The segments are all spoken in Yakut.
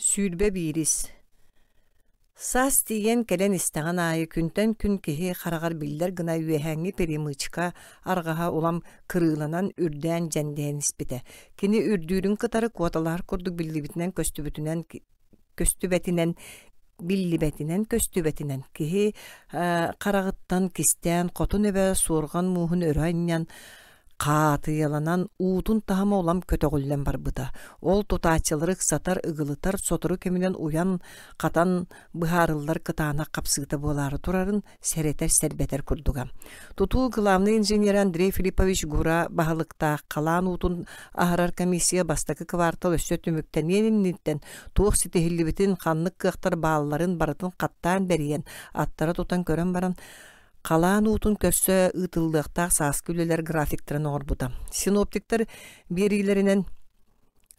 Сүүрбэ биирис Саас тиийэн кэлэн истэҕин аайы күнтэн күн киһи хараҕар биллэр гына үөһээҥҥи перемычка арҕаһа улам кырыыланан үрдээн дьэндэйэн испитэ. Кини үрдүүрүн кытары куоталаһар курдук биллибитинэн көстүбүтүнэн көстүбэтинэн биллибэтинэн көстүбэтинэн киһи хараҕыттан кистээн хотун эбэ суорҕан мууһун өрө анньан Хаатыйаланан уутун таһыма улам көтөҕүллэн барбыта. Ол тутааччылары ыксатар, ыгылытар, сотору кэминэн уйан, хатан быһаарыллар кытаанах хапсыыта буолаары турарын сэрэтэр-сэрбэтэр курдуга. Тутуу главный инженер Андрей Филиппович Гура баһылыктаах халаан уутун аһарар комиссия бастакы квартал өссө түмүктэниэн инниттэн туох ситиһиллибитин, ханнык кыахтар баалларын барытын хаттаан бэрийэн, аттара тутан көрөн баран, халаан уутун көрсө ыытыллыахтаах сааскы үлэлэр графиктарын оҥорбута. Синоптиктар биэриилэринэн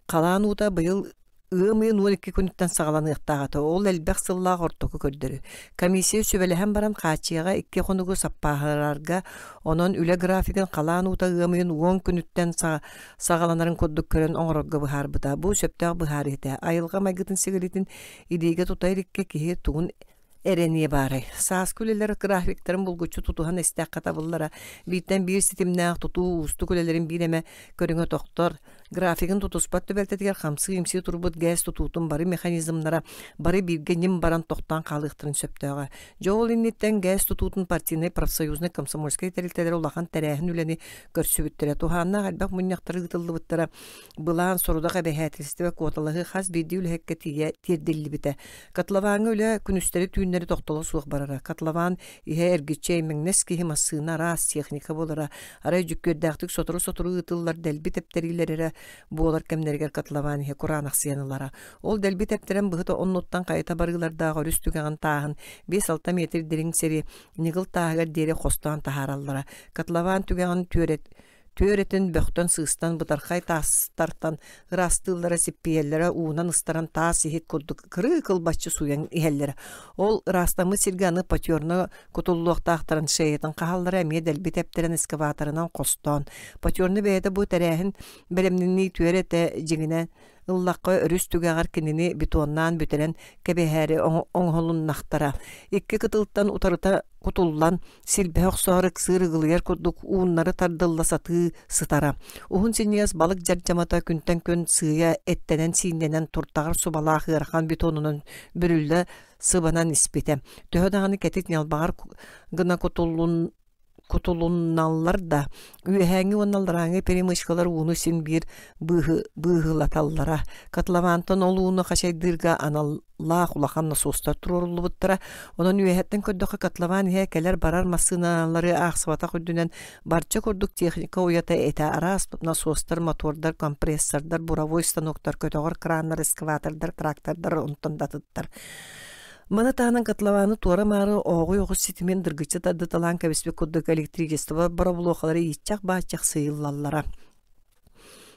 халаан уута быйыл ыам ыйын он икки күнүттэн саҕаланыахтаахата. Ол элбэх сыллаах ортоку көрдөрү. Комиссия сүбэлэһэн баран хааччыйаҕа икки хонугу саппааһарарга, онон үлэ графигын халаан уута ыам ыйын он күнүттэн саҕаланарын курдук көрөн оҥорорго быһаарбыта. Бу сөптөөх быһаарыы этэ. Айылҕа майгытын-сигилитин идиэйгэ тута иликкэ киһи тугун эрэниэ баарай. Сааскы үлэлэр графиктарын булгуччу тутуһан истэххэ табыллара. Бииртэн биир ситимнээх тутуу уустук үлэлэрин биир эмэ көрүҥэ тохтор. Графигын тутуспат түбэлтэтигэр хамсыы-имсии турбут ГЭС тутуутун бары механизмнара бары бииргэ ньим баран тохтоон хаалыахтарын сөптөөҕө. Дьэ ол инниттэн ГЭС тутуутун партийнай профсоюзнай комсомольскай тэрилтэлэр улахан тэрээһин үлэни көрсүбүттэрэ. Туһааннаах элбэх мунньахтары ыытыллыбыттара. Былаан, сорудах эбэһээтэлистибэ куоталаһыы хас биирдии үлэһиккэ тиийэ тиэрдиллибитэ. Котловаҥҥа үлэ күнүстэри-түүннэри тохтоло суох барара. Котлован иһэ эргиччи аймэҥнэс киһи массыына араас, техника буолара. Арай дьүккүөрдээхтик сотору-сотору ыытыллар дэлби тэптэриилэрэ буолар кэмнэригэр котлован иһэ кураанахсыйан ылара. Ол дэлби тэптэрэн быһыта оннуттан хайыта барыылардаах өрүс түгэҕин тааһын биэс-алта метр дириҥ сири ньыгыл тааһыгар диэри хостоон таһаараллара. Котлован түгэҕин түөрэ түөр этин бөхтөн сыыстан бытархай таастартан ыраастыыллара сиппийэллэрэ уунан ыстаран таас иһит курдук кырыы кылбаччы сууйан иһэллэрэ ол ыраастаммыт сиргэ аны потерно кутуллуохтаахтарын шеятын хааллара эмиэ дэлби тэптэрэн эскаваторынан хостоон потерно бэйэтэ бу тэрээһин бэлэмнэнии түөр этэ дьиҥинэ ыллахха өрүс түгэҕэр кинини бетоннаан бүтэрэн кэбиһээри оҥоһулуннахтара. Икки кытылтан утарыта кутуллан силбэһэ охсоору ыксыыр ыгылыйар курдук ууннары тардылла сатыы сытара. Уһун синньиэс балык дьардьамата күнтэн күн сыыйа эттэнэн-сииннэнэн туртаҕар субалаах ыарахан бетонунан бүрүллэ сыбанан испитэ. Төһө даҕаны кэтит ньалбаҕар гына кутуллун кутулунналлар да, үөһээҥи уонна алларааҥы перемычкалар ууну син биир быыһы быыһылаталлара. Котловантан ол ууну хачайдыырга аналлаах улахан насостар туруоруллубуттара. Онон үөһэттэн көрдөххө котлован иһэ кэлэр-барар массыыналары аахсыбатах үрдүнэн барча курдук техника уйата этэ араас насостар, мотордар, компрессордар, буровой станоктар, көтөҕөр краннар, экскаватордар, трактордар онтон да атыттар. Маны таһынан котлованы туора-маары оҕуй оҕус ситимин дыргыччы тардыталаан кэбиспит курдук электричество боробулуохалара ииччах-бааччах сыйыллаллара.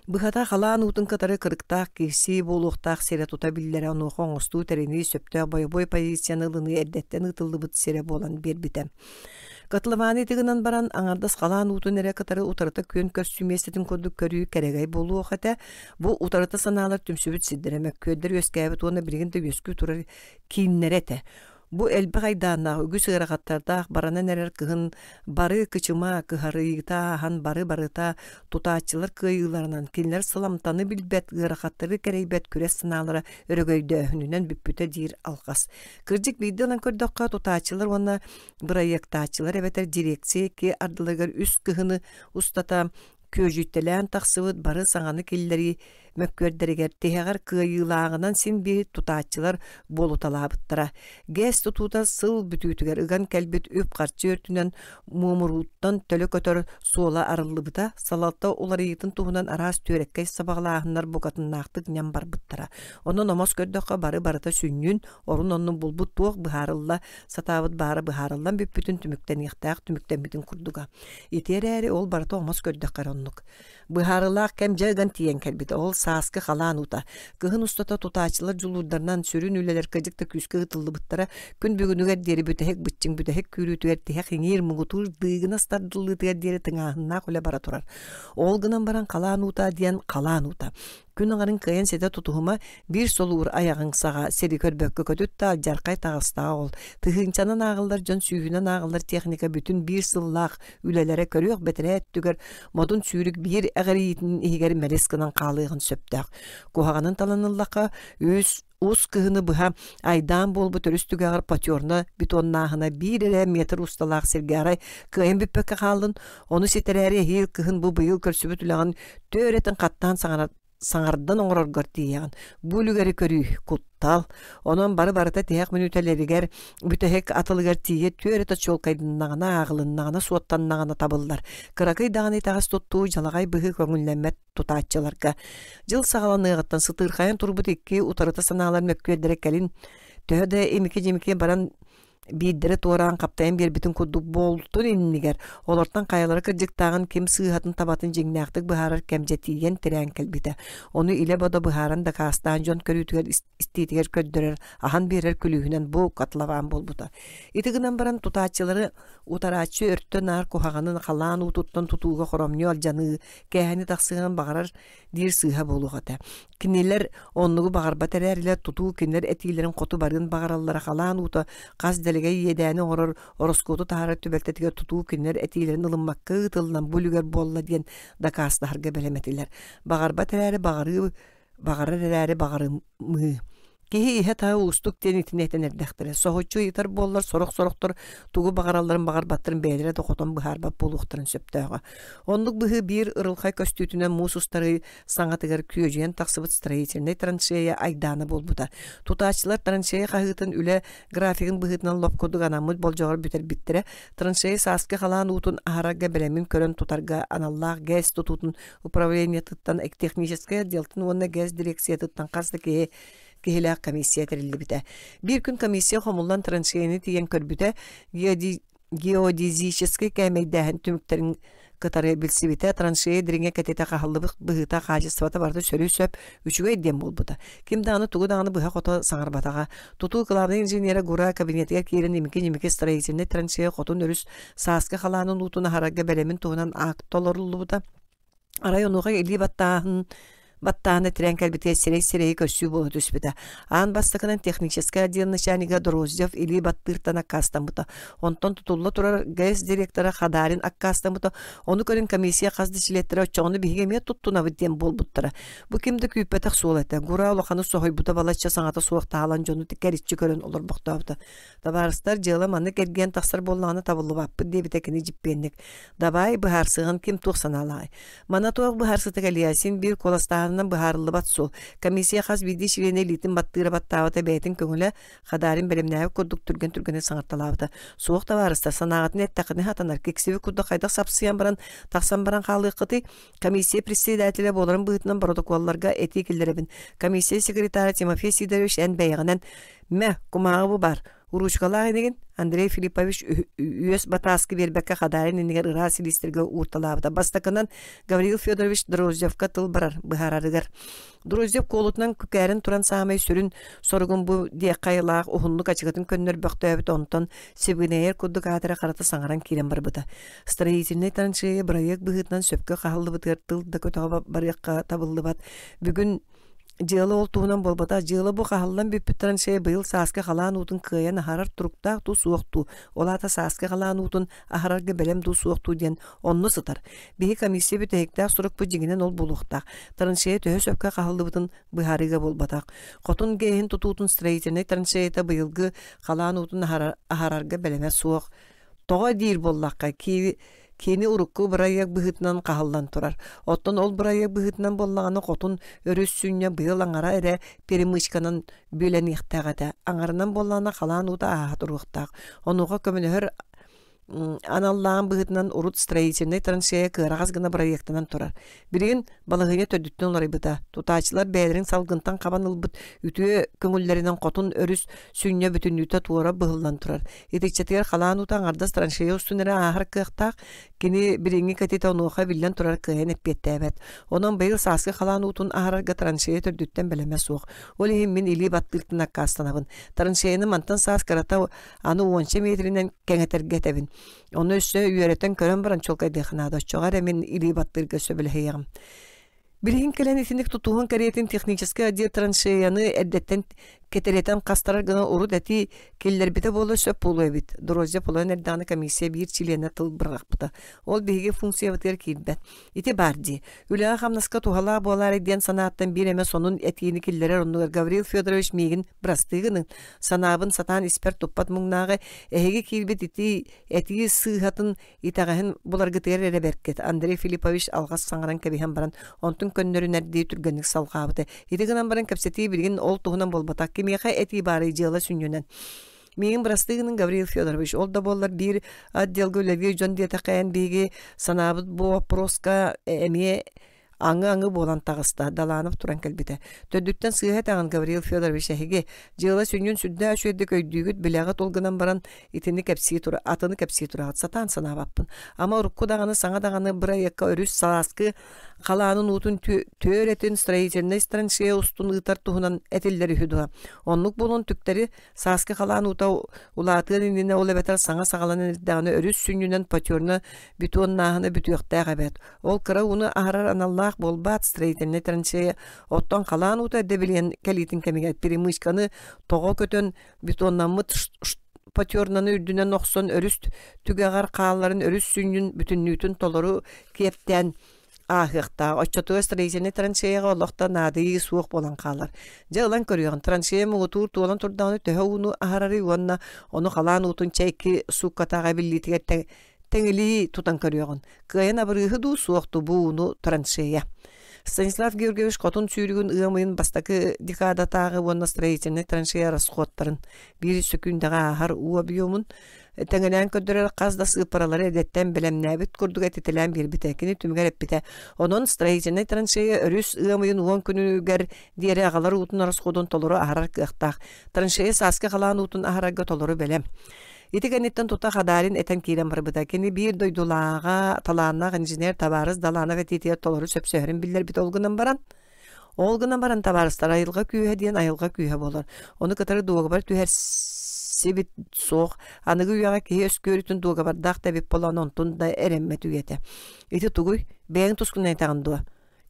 Быһата халаан уутун кытары кырыктаах киирсии буолуохтаах сирэ тута биллэрэ онуоха оҥостуу тэринии сөптөөх бойобуой позицияны ылыныы эрдэттэн ыытыллыбыт сирэ буолан биэрбитэ. Котлованы тыгынан баран аңардас халаан уутун эрэ кытары утарыта күөн көрсүү миэстэтин курдук көрүү кэрэгэй буолуох этэ. Бу утарыта санаалар түмсүбүт сирдэрэ мөккүөрдэр үөскээбит уонна билигин да үөскүү турар кииннэрэ этэ. Бу элбэх айдааннаах үгүс ыарахаттардаах баранан эрэр кыһын бары кычыма кыһарыйыта ахан бары барыта тутааччылар кыайыыларынан кинилэр сыламтаны билбэт ыарахаттары кэрэйбэт күрэс санаалара өрөгөйдөөһүнүнэн бүппүтэ диир алҕас. Кырдьык биирдэ ылан көрдөххө, тутааччылар уонна бырайыактааччылар эбэтэр дирекция икки ардыларыгар үс кыһыны устата күөдьүйтэлээн тахсыбыт бары саҥаны киллэрии мөккүөрдэригэр тиһэҕэр кыайыылааҕынан син биир тутааччылар буолуталаабыттара. ГЭС тутуута сыл бүтүүтүгэр ыган кэлбит үп-харчы өртүнэн муомурууттан төлө көтөр суола арыллыбыта, салалта уларыйыытын туһунан араас түөрэккэй сабаҕалааһыннар букатыннаахтык ньам барбыттара. Онон омос көрдөххө бары барыта сүнньүн, орун оннун булбут туох быһаарылла сатаабыт баара быһаарыллан бүппүтүн түмүктэниэхтээх түмүктэммитин курдуга. Ити эрээри ол барыта омос көрдөххө эрэ оннук. Быһаарылаах кэм дьэ ыган тиийэн кэлбит. Ол сааскы халаан ута. Кыһын устата тутаачылар дьулуурдарынан сүрүн үлэлэр кыдьык да күүскэ ыытыллыбыттара күн бүгүнүгэр диэри бүтэһик быччыҥ бүтэһик күүрүүтүгэр тиһэх иҥиир муҥутуур дыыгынас тардыллыытыгар диэри тыҥааһыннаах үлэ бара турар. Ол гынан баран халаан уута диэн халаан уута. Күн аңарын кыйын сетэ тутуһума биир солуур аяҕың саҕа сири көрбөккө көтүтта дьархай таҕыстаҕа ол. Тыһыынчанан ааҕыллар дьон сүүһүнэн ааҕыллар техника бүтүн биир сыллаах үлэлэрэ көрүөх бэтэрээ өттүгэр модун сүүрүк биир эҕириитин иһигэр мэлис гынан хаалыаҕын сөптөөх. Куһаҕанын таланыллаха, үс Уус кыһыны быһа айдаан буолбут өрүс түгэҕэр потерна бетоннааһына биир эрэ метр усталаах сиргэ арай кыайан бүппэккэ хааллын, ону ситэрээри эһиил кыһын бу быйыл көрсүбүт үлэҕин түөрэтин хаттаан саҥардан оҥороргор тиийэҕин. Бу үлүгэри көрүү куттал. Онон бары барыта тиһэх мүнүүтэлэригэр бүтэһик атылыгар тиийэ түөрэтэ чуолкайданнаҕына, ааҕылыннаҕына, суоттаннаҕына табыллар. Кыракый даҕаны итэҕэс туттуу, дьалаҕай быһыы көҥүллэммэт тутааччыларга дьыл саҕаланыаҕыттан сытыырхайан турбут икки утарыта санаалар мөккүөрдэрэ кэлин төһө да имики-дьимики баран биирдэрэ туораан хаптайан биэрбитин курдук буолтун иннигэр олортон хайалара кырдьыктааҕын ким сыыһатын табатын дьиҥнээхтик быһаарар кэмдьэ тиийэн тирээн кэлбитэ ону илэ-бодо быһааран дакаастаан дьон көрүүтүгэр истиитигэр көрдөрөр, аһан биэрэр күлүүһүнэн бу котлован буолбута. Ити гынан баран тутааччылары утарааччы өртө наар куһаҕанын халаан уутуттан тутууга хоромньу алдьаныы, кээһэни тахсыан баҕарар диир сыыһа буолуох этэ. Кинилэр оннугу баҕарбат эрээрилэр тутуу кинилэр этиилэрин хоту барыын баҕараллара халаан уута хас дэлэгэй иэдээни оҥорор ороскуоту таһарар түбэлтэтигэр тутуу кинилэр этиилэрин ылыммакка ыытыллан бу үлүгэр буолла диэн дакаастаһарга бэлэмэтилэр. Баҕарбат эрээри баҕарыы Баҕарар эрээри баҕарымыы. Киһи иһэ-таһа уустук диэн итиннэтэн эрдэхтэрэ. Соһуччу ыйытар буоллар сорох-сорохтор тугу баҕаралларын баҕарбаттарын бэйэлэрэ да хотон быһаарбат буолуохтарын сөптөөҕө. Оннук быһыы биир ырылхай көстүүтүнэн муус устарыы саҥатыгар күөдьүйэн тахсыбыт строительнай траншея айдаана буолбута. Тутааччылар траншея хаһыытын үлэ графигын быһыытынан лоп курдук анаммыт болдьоҕор бүтэрбиттэрэ. Траншея сааскы халаан уутун аһарарга бэлэмин көрөн тутарга аналлаах ГЭС тутуутун управлениетыттан, техническай отделтын уонна ГЭС дирекциятыттан хас да киһи киһилээх комиссия тэриллибитэ. Биир күн комиссия хомуллан траншейаны тиийэн көрбүтэ, геодезический кээмэйдээһин түмүктэрин кытары билсибитэ, траншея дириҥэ кэтитэ хаһыллыбыт быһыыта хаачыстыбата барыта сөрү сөп, Үчүгэй диэн буолбута. Ким даҕаны тугу даҕаны быһа-хото саҥарбатаҕа. Тутуу кылаабынай инженерэ Гура кабинетыгар киирэн имики-имики строительнай трансферы хотун өрүс сааскы халаанын уутун аһарарга бэлэмин туһунан акт толоруллубута. Арай онуоха илии баттааһын баттааны тирээн кэлбитигэр сирэй-сирэйи көрсүү буола түспүтэ. Аан бастакынан техническэй отдел начальнига Дроздев илии баттыыртан аккаастаммыта. Онтон тутулла турар ГЭС директора Хадарин аккаастаммыта. Ону көрөн комиссия хас да чилиэттэрэ оччоҕуна биһиги эмиэ туттунабыт диэн буолбуттара. Бу ким да күүппэтэх суол этэ. Гура улаханы соһуйбута балачча саҥата суох таалан дьону кэриччи көрөн олорбохтообута. Табаарыстар дьыала манна кэргэн тахсар буоллаҕына табыллыбаппыт диэбитэ кини дьиппиэнник. Давай быһаарсыган ким туох санаалаҕай? Мана туох быһаарсыта кэлиэ син биир куоластааһынынан быһаарыллыбат суол. Комиссия хас биирдии чилиэнэ илиитин баттыыра баттаабыта бэйэтин көҥүлэ Хадаарин бэлэмнээбит курдук түргэн түргэнник саҥарталаабыта. Суох табаарыстар санааҕытын эттэххинэ хатанар киксибит курдук хайдах сапсыйан баран тахсан баран хаалыаххытый? Комиссия председателэ буоларын быһыытынан боротокуолларга этии киллэрэбин. Комиссия секретаря Тимофей Сидорович эн бэйэҕинэн мэ кумааҕы бу бар Уруучкалаах инигин Андрей Филиппович үөс батааски биэрбэккэ Хадаарин инигэр ыраа силиистэргэ уурталаабыта. Бастакынан Гавриил Федорович Дрозжевка тыл барар быһаарарыгар Друзьев куолутунан күкээрин туран саамай сүрүн соругум бу диэххэ айылаах уһуннук ачыгытын көннөр бөхтөөбүт онтон сибигинэйэр курдук аатыра харата саҥаран киирэн барбыта. Строительный траншея бырайыак быһыытынан сөпкө хааллыбытыгар тыл да көтөҕө барыахха табыллыбат. Бүгүн дьыала ол туһунан буолбата дьыала бу хаһаллан бүппүт траншея быйыл сааскы халаан уутун кыайан аһарар туруктаах туу суох дуу ол аата сааскы халаан уутун аһарарга бэлэм дуу суох дуу диэн Онно сытар. Биһи комиссия бүтэһиктээх сурукпут дьиҥинэн ол булуохтаах. Траншея төһө сөпкө хаһыллыбытын быһаарыыга буолбатах. Хотун геһин тутуутун строительнай траншеята быйылгы халаан уутун аһарарга бэлэмэ суох. Тоҕо диир боллахха, киви кини урукку бырайыак быһыытынан хаһыллан турар. Оттон ол бырайыак быһыытынан боллаҕына хотун өрүс сүнньэ быйыл аңара эрэ перемычканан бүөлэниэхтээх этэ. Аңарынан боллаҕына халаан уута ааһа туруохтаах. Онуоха көмөлөһөр аналлаан быһытынан урут строительнай траншея кыараҕас гына бырайыактанан турар. Билигин балаһыанньа төрдүттэн уларыйбыта. Тутааччылар бэйэлэрин салгынтан хабан ылбыт үтүө көҥүллэринэн хотун өрүс сүнньэ бүтүннүүтэ туора быһыллан турар. Итиччэтигэр халаан ута аҥардас траншея устун эрэ ааһар кыахтаах. Кини билиҥҥи кэтитэ онуоха биллэн турар кыайан эппиэттээбэт. Онон быйыл сааскы халаан уутун аһарарга траншея төрдүттэн бэлэмэ суох. Ол иһин мин илии баттыыртан аккаастанабын. Траншеяны мантан саас кырата Аны уонча метринэн кэҥэтэргэ этэбин. Ону өссө үөрэтэн көрөн баран чуолкайдыахха наада. Оччоҕо эрэ мин илии баттыырга сөбүлэһиэҕим. Билигин кэлэн итинник тутууһун кэриэтин техническэй отдел траншеяны эрдэттэн кэтириэтэн хастарар гына урут эти киллэрбитэ буола сөп буолуо эбит. Дорозия Половина эрдэҕинэ комиссия биир чилиэнэ тыл бырахпыта. Ол биһиги функциябытыгар киирбэт. Ити баар дии. Үлэҕэ-хамнаска туһалаах буолаарай диэн санааттан биир эмэ сонун этиини киллэрэр оннугар Гаврил Федорович миигин бырастыы гыныҥ, санаабын сатаан испэр туппат муҥнааҕы эһиги киирбит итии этии сыыһатын итэҕэһин буларгытыгар эрэ бэркет. Андрей Филиппович алҕас саҥаран кэбиһэн баран онтун көннөрүнэрдии түргэнник салҕаабыта. Ити гынан баран кэпсэтии билигин ол туһунан буолбатах. Кимиэхэ этии баарый дьыала сүнньүнэн. Миигин бырастыгынан Гаврил Федорович ол да буоллар биир отделга үлэлиир дьон диэтэхээн биһиги санаабыт бу вопроска эмиэ аңы-аңы буолан таҕыста Даланов туран кэлбитэ төрдүттэн сыыһа этэҕин Гаврил Федорович эһиги дьыала сүнньүн сүрдээ үчүгэйдик өйдүүгүт билэҕит ол гынан баран итини кэпсии тура атыны кэпсии тураҕыт сатаан санаабаппын ама урукку даҕаны саҥа даҕаны бырайыакка өрүс салааскы халаанын уутун түөрэтин строительнай страничка устун ыытар туһунан этиллэр үһү дуо оннук буолан түктэри Сааскы халаан уута улаатыан иннинэ ол эбэтэр саҥа саҕаланан эрдэҕинэ өрүс сүнньүнэн потерна бетоннааһына бүтүөхтээх эбээт. Ол кыра ууну аһарар аналлаах буолбаат строительнай траншея, оттон халаан уута дэбилиэн кэлиитин кэмигэр перемычканы тоҕо көтөн бетоннаммыт потернаны үрдүнэн охсон өрүс түгэҕэр хаалларын өрүс сүнньүн бүтүннүүтүн толору киэптээн ааһыахтаах. Оччотугар строительный траншеяга олохто наадыйыы суох буолан хаалар. Дьэ ылан көрүөҕүн, траншея муҥутуур туолан турдаҕына төһө ууну аһарарый уонна ону халаан уутун чэйки сууккатааҕы эбиллиитигэр тэҥилии тутан көрүөҕүн. Кыайан абырыыһы дуу, суох дуу бу ууну траншея. Станислав Георгиевич хотун сүүрүгүн ыамыйын бастакы декадатааҕы уонна строительный траншея расходтарын биир сөкүүндэҕэ ааһар уу объемун Тэҥинээн көрдөрөр хас да сыыппаралары эдэттэн бэлэмнээбит курдук этитэлээн биэрбитэ. Кини түмүгэр эппитэ. Онон строительнай траншея өрүс ыамыйын уон күнүгэр диэри агалар уутун ороскуодун толору аһарар кыахтаах. Траншея сааскы халаан уутун аһарарга толору бэлэм. Ити кэнниттэн тута Хадаарин этэн киирэн барбыта. Кини биир дойдулааҕа талааннаах инженер Табаарыс Даланов этиитигэр толору сөпсөһөрүн биллэрбит ол гынан баран, Ол гынан баран табаарыстар айылҕа күүһэ диэн айылҕа күүһэ буолар. Ону кытары дуогабар түһэрсибит суох. Аныгы үйэҕэ киһи өскүөрүтүн дуогабардаах да эбит буолан онтун да эрэммэт үйэтэ. Ити тугуй? Бэйэҥ тускунайдаҕын дуо?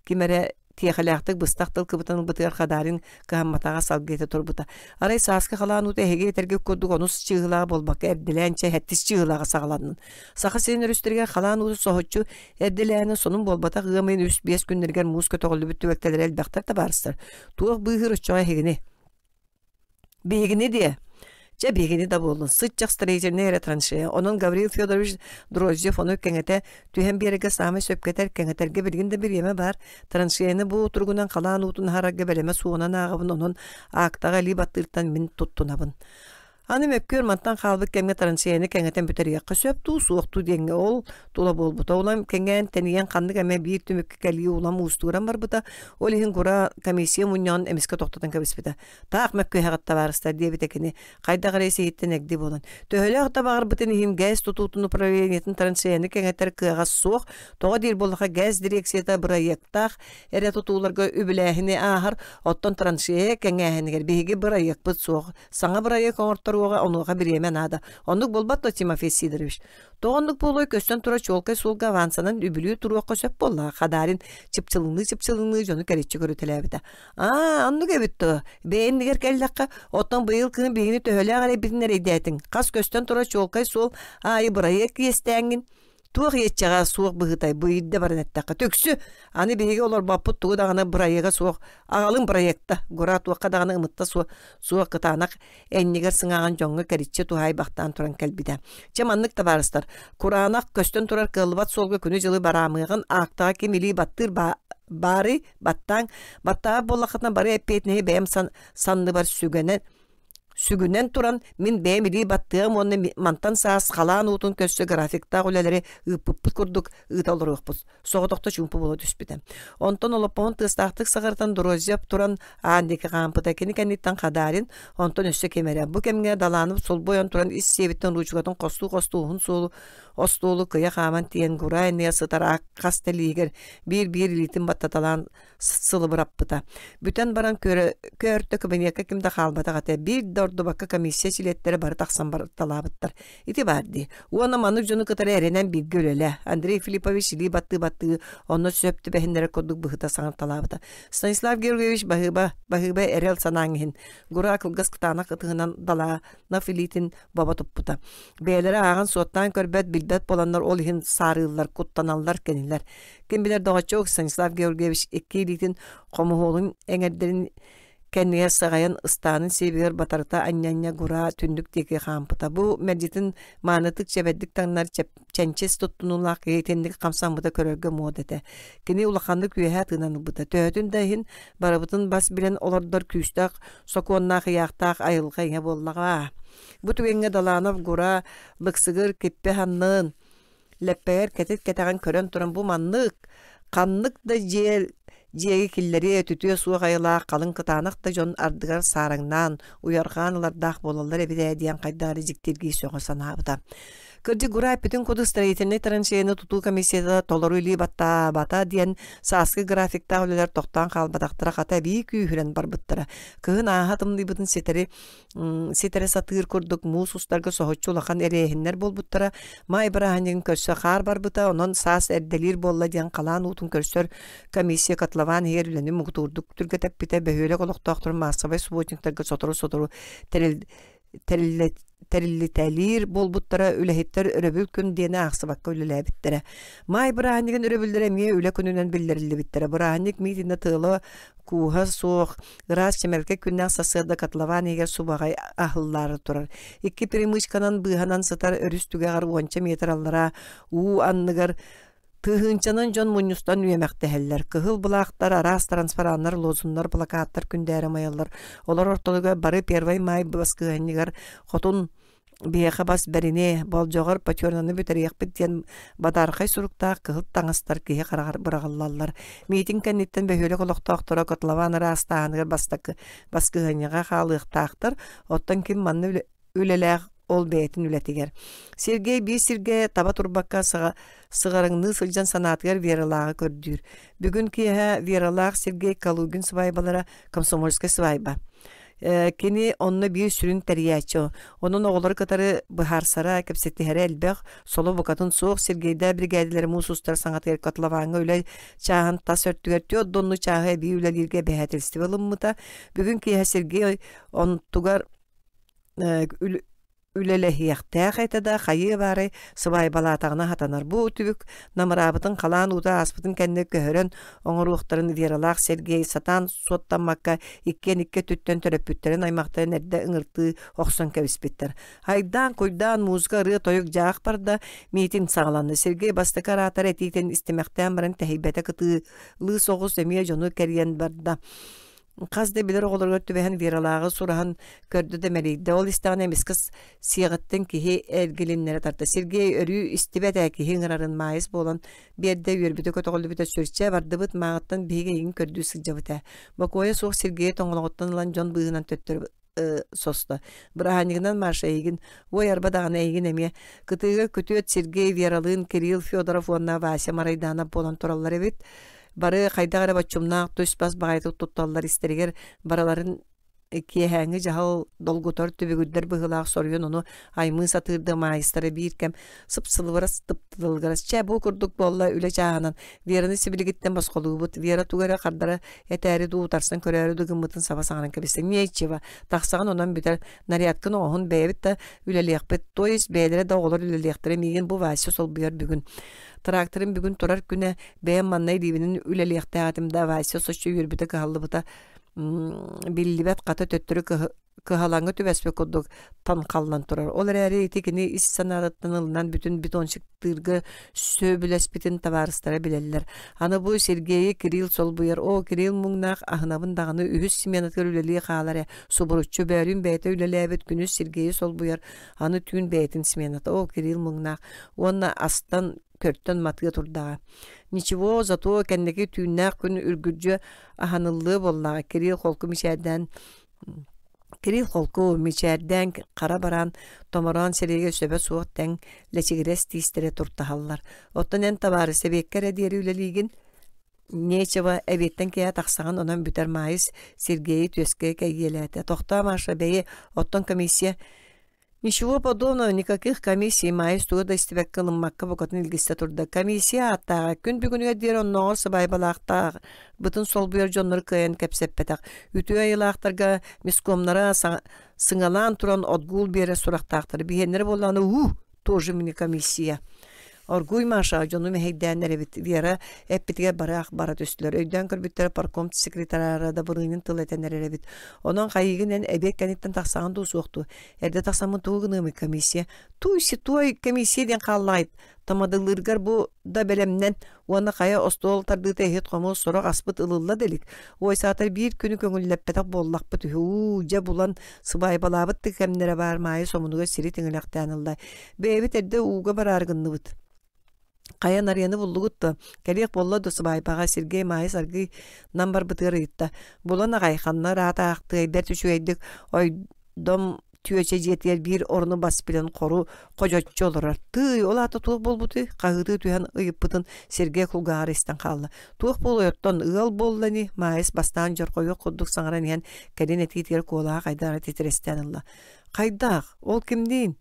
Ким эрэ тиэхэлээхтик быстах тыл кыбытан ылбытыгар хадаарыҥ кыһамматаҕа салгыыта турбута. Арай сааскы халаан уута эһиги этэргит курдук онус чыыһылаҕа буолбакка эрдэлээн чэ эһэттис чыыһылаҕа саҕаланнын. Саха сирин өрүстэригэр халаан уусу соһуччу эрдэлээнэ сонун буолбатах ыамыйын үс биэс күннэригэр муус көтөҕүллүбүт түбэлтэлэрэ элбэхтэр табаарыстар. Туох быыһыыр оччоҕо эһигини? Биһигини диэ. Чэ биһигини да буоллун. Сыччах строительнай эрэ траншея. Онон Гаврил Федорович Дроздев ону кэҥэтэ түһэн биэрэргэ саамай сөпкөтөр, кэҥэтэргэ билигин да бириэмэ баар. Траншеяны бу утуругунан халаан уутун аһарарга бэлэмэ суонан ааҕабын, онон аактаҕа илии баттыыртан мин туттунабын. Аны мөккүөр мантан хаалбыт кэмҥэ траншеяны кэҥэтэн бүтэриэххэ сөп дуу, суох дуу диэҥҥэ ол тула буолбута. Улам кэҥээн, тэнийэн ханнык эмэ биир түмүккэ кэлии улам уустугуран барбыта. Ол иһин кура комиссия мунньаҕын эмискэ тохтотон кэбиспитэ. Таах мөккүһэҕит табаарыстар диэбитэ кини. Хайдах эрэ сиһиттэн эгди буолан. Төһөлөөх да баҕарбытын иһин ГЭС тутуутун управлениетын траншеяны кэҥэтэр кыаҕа суох. Тоҕо диир буоллаха ГЭС дирекцията бырайыактаах эрэ тутууларга үбүлээһини ааһар, оттон траншея кэҥээһинигэр биһиги бырайыакпыт суох. Саҥа бырайыак оҥорторуоҕа онуоха бириэмэ наада. Оннук буолбат то Тимофей Сидорович. То оннук буолуой көстөн тура чуолкай суолга авансанан үбүлүү туруохха сөп буолла. Хадаарин чыпчылыныы-чыпчылыныы дьону кэриччи көрүтэлээбитэ. Аа, оннук эбит то. Бэйэн дигэр кэллэххэ, оттон быйыл кыһын биһигини төһөлөөх эрэ битин эрэйдээтиҥ. Хас көстөн тура чуолкай суол аайы бырайыак иэстээҥҥин. туох иэччэҕэ суох быһыытай бу ирдэ баран эттэххэ түксү аны биһиги олорбоппут тугу даҕаны бырайыга суох аҕалын проекта гора туохха даҕаны ымытта суох суох кытаанах эннигэр сыҥааҕын дьоҥҥо кэриччи туһаайбахтаан туран кэлбитэ чэ маннык табаарыстар кураанах көстөн турар кыаллыбат суолга күнү-дьылы бараамыаҕын аактаҕа ким илии баттыыр баары баттааҥ баттаабыт буоллаххытына бары эппиэтинэһи бэйэм санныбар сүгэнэн Сүгүнэн туран, мин бэйэм илии баттыам уонна мантан саас халаан уутун көрсө графиктаах үлэлэри ыыппыппыт курдук ыыта олоруохпут. Соҕотохто чуумпу буола түспүтэ. Онтон олоппоһун тыастаахтык саҕартан Дорозьев туран Аанньыка хаампыта кини кэнниттэн Хадарин, онтон өссө кимэрэ. Бу кэмҥэ Далаанып солбуйан туран ис сиэбиттэн ручкатын хостуу-хостуу уһун суолу остуолу кыйа хааман тиийэн Гурай Ныя сытар ах хас тэлиигэр биир-биир илиитин баттаталаан сылыбыраппыта. Бүтэн баран көрө-көртө кабинетка ким да хаалбатах этэ. Биир да ордубакка комиссия силиэттэрэ бары тахсан барталаабыттар. Ити баар дии. Уонна маны дьону кытары эрэнэн бииргэ үлэлэ. Андрей Филиппович илии баттыы-баттыы онно сөп түбэһиннэрэ курдук быһыта саҥарталаабыта. Станислав Георгиевич баһыыба, баһыыба эрэл санааҥ иһин. Гура кылгас кытаанах ытыһынан далаана Филитин боbo туппута. Бэйэлэрэ ааҕан суоттаан көрбөт, билбэт буоланнар ол иһин саарыыллар, куттаналлар, кэнилэр. Ким билэр доҕоччук Станислав Георгиевич икки илиитин хомуһуолун эҥэрдэрин кэннигэр саҕайан ыстаанын сиэбигэр батарыта анньанньа гураа түннүк диэки хаампыта. Бу мэлдьитин маанытык чэбэрдик таҥнар чэнчис туттунуулаах киһи итинник хамсаммыта көрөргө муод этэ. Кини улаханнык үөһэ тыынан ылбыта. Төһөтүн да иһин барыбытын бас билэн олордор күүстээх сокуоннаах ыйаахтаах айылҕа ийэ буоллаҕа. Бу түгэҥҥэ Даланов Гура Быксыгыр киппэ ханнын Лэппэйэр кэтит-кэтэҕин көрөн туран бу маннык, ханнык да дьиэ дьиэги киллэриэ үтүтүө суох айылаах халыҥ кытаанах да дьон ардыгар саараҥнаан, уйарҕаан ылардаах буолаллар эбит ээ диэн хайдах эрэ дьиктиргии сөҕө санаабыта. Кырдьык Гурай бүтүн кудус строительнай траншеяны тутуу комиссията толору илии баттаабата диэн сааскы графиктаах үлэлэр тохтоон хаалбатахтара хата эбии күүһүрэн барбыттара. Кыһын ааһа тымныйбытын ситэри ситэрэ сатыыр курдук муус устарга соһуччу улахан эриэһиннэр буолбуттара маай бырааһынньыгын көрсө хаар барбыта онон саас эрдэлиир буолла диэн халаан уутун көрсөр комиссия котлован иһигэр үлэни мугутуурдук түргэтэппитэ бөһүөлэк олохтоохторун маассабай субботниктарга сотору-сотору тэриллитэлиир буолбуттара үлэһиттэр өрөбүл күн диэни аахсыбакка үлэлээбиттэрэ маай бырааһынньыгын өрөбүллэрэ эмиэ үлэ күнүнэн биллэриллибиттэрэ бырааһынньык миитинэ тыала кууһа суох Ыраас чэмэлкэ күннээх сарсыарда котлован иһигэр субаҕай аһыллаары турар. Икки перемычканан быыһанан сытар өрүс түгэҕэр уонча метр аллара уу анныгар Тыһыынчанан дьон мунньустан үөмэхтэһэллэр. Кыһыл былаахтар, араас трансфараннар, лозуннар, плакаттар күндээри майаллар. Олор ортолугар бары Первый май баскыһанньыгар хотун Биһиэхэ бас бэрини, болдьоҕор пятернаны бүтэриэхпит диэн бадаархай суруктаах кыһыл таҥастар киһи хараҕар быраҕыллаллар. Миитин кэнниттэн бөһүөлэк олохтоохторо котлован ыраастааһыныгар бастакы баскыһыанньаҕа хаалыахтаахтар, оттон ким манна үлэ- үлэлээх ол бэйэтин үлэтигэр. Сергей биир сиргэ таба турбакка сыга- сыҕарыҥныы сылдьан санаатыгар Вералааҕы көрдүүр. Бүгүн киэһэ Вералаах Сергей Калугин свайбалара комсомольскай свайба. Кини онно биир сүрүн тэрийээччи. Онон оҕолору кытары быһаарсара, кэпсэтиһэрэ элбэх. Соло букатын суох Сергейдаа бригадилер муус устар саҥатыгар котлованга үлэ чааһын тас өртүгэр түөрт донну чааһы эбии үлэлииргэ бэһээтилистиби ылыммыта. Бүгүн киэһэ Сергей онтугар үлэлэһиэхтээх этэ да хайыы-баары сыбаайбалаатаҕына хатанар бу үтүбүк намыраабытын халаан уута ааспытын кэннэ көһөрөн оҥоруохтарын Вералаах Сергей сатаан суоттаммакка иккиэн икки өттүттэн төрөппүттэрин аймахтарын эрдэ ыҥыртыы охсон кэбиспиттэр айдаан-куйдаан музыка ырыа-тойук дьаах барда миитин саҕаланна Сергей бастакы араатар этиитин истимэхтээн баран тэһийбэтэ кытыылыы соҕус эмиэ дьону кэрийэн барда хас да билэр оҕолоругар түбэһэн Вералааҕы сураһан көрдө да мэлийдэ. Ол истэҕинэ эмискэ сиэҕиттэн киһи эргилиннэрэ тарта. Сергей өрүү истибэт ээ киһи ыҥырарын маайыс буолан биэрдэ үөрбүтэ көтөҕүллүбүтэ сүрчэ бардыбыт мааҕыттан биһиги эйигин көрдүү сылдьабыт ээ. Бокуойа суох Сергей тоҥолоҕуттан ылан дьон быыһынан төттөрү состо. Быраһанньыгынан Маша эйигин, уой арба даҕаны эйигин эмиэ. Кытыыга күтүөт Сергей, Вералыын, Кирилл Федоров уонна Вася Марайдаанап буолан тураллар эбит. Бары хайдах эрэ боччумнаах түс-бас баҕайытык тутталлар истэригэр барыларын киэһээҥҥи дьаһал долгутар түбүгүрдэр быһыылаах соруйан ону аймыы сатыырды маайыстара биир кэм сыпсылыбырас тыптылгырас чэ бу курдук буолла үлэ чааһынан Вераны сибилигиттэн босхолуубут Вера туга эрэ хардара этээри дуу утарсан көрөөрү да гыммытын саба саҕанан кэбистэ миэччива тахсаҕын онон бүтэр нарядкын оҕоһун бэйэбит да үлэлиэхпит то есть бэйэлэрэ да оҕолор үлэлиэхтэрэ миигин бу Вася солбуйар бүгүн тракторым бүгүн турар күнэ бэйэм маннай риибинин үлэлиэхтээх этим да Вася соччо үөрбүтэ кыһаллыбыта биллибэт хата төттөрү кыһалаҥы түбэспит курдук таҥхаллан турар. Ол эрээри ити кини ис санаатыттан ылынан бүтүн бетонщиктыырга сөбүлэспитин табаарыстара билэллэр. Аны бу Сергейи Кирилл солбуйар. Оо, Кирилл муҥнаах аһынабын даҕаны үһүс сменатыгар үлэлии хаалар ээ. Субуруччу бөөрүн бэйэтэ үлэлээбит күнүс Сергейи солбуйар. Аны түүн бэйэтин смената. Оо, Кирилл муҥнаах. Уонна астан көртөн матыа турдаҕа. Ничего, зато кэнники түүннээх күн үргүрдьө аһаныллыы буоллаҕа. Кирилл холку мичээрдээн Кирил холку, мичээрдээн хара бараан, томороон сирэйгэ сөбө суох тэҥ, лэчигирэс тиистэрэ туртаһаллар. Оттон эн табаары сэбиэккэ эрэ диэри үлэлиигин, нечево эбиэттэн киэһэ тахсаҕын онон бүтэр маайыс Сергейи түөскэ кэйгиэлээтэ. Тохтоо, Маша, бэйи, оттон комиссия Ничего подобного никаких комиссий майыс туга да истибекке ылыммакка букатын илгисте турда. Комиссия ааттааҕа күн бүгүнүгэр диэри оннооҕор сыбайбалаахтаах бытын солбуйар дьоннору кыайан кэпсэппэтэх. Үтүө айылаахтарга мискомнара сыңалаан туран отгул биэрэ сурахтаахтар. Биһеннері боллааны уу тоже мини комиссия. Оргууй Маша дьону мэһэйдээн эрэбит. Вера эппитигэр бараах бара түстүлэр. Өйдөөн көрбүттэрэ парком секретара да былыынын тыл этэн эрэбит. Онон хайыгын эн эбиэт кэниттэн тахсаҕын дуу суох дуу. Эрдэ тахсаммын тугу гыныамый комиссия? Туй ситой комиссия диэн хааллаайт. Тамадылыыргар бу да бэлэмнэн уонна хайа остуол тардыыта иһит-хомул сорох аспыт ылылла делик. Ойсаатар биир күнү көҥүллэппэтэх буоллахпыт үһү. Дьэ булан сыбаайбалаабыт тыкэмнэрэ баар Маайа сомунугар сири тиҥилэхтээн ылла. Бэйэбит эрдэ ууга бараары гынныбыт. Хайа нарыяны буллугут да, кэлиэх болла да субайбаҕа Сергей Маайыс аргый нам барбытыгар ыйытта. Булан аҕай ханна ыраатаахтыай бэрт үчүгэйдик ойдом түөчэ дьиэтигэр биир оруну бас билэн хору хожоччу олорор. Тыы, ол аата туох буолбутуй? Хаһыытыы түһэн ыйыппытын Сергей кулгааҕар истэн хаалла. Туох буолуйоттон ыал буолла ини? Маайыс бастаан дьорхойуох курдук саҥаран иһэн кэлин этиитигэр куолаҕа хайдаары титирэстээн ылла. Хайдаах? Ол кимниин?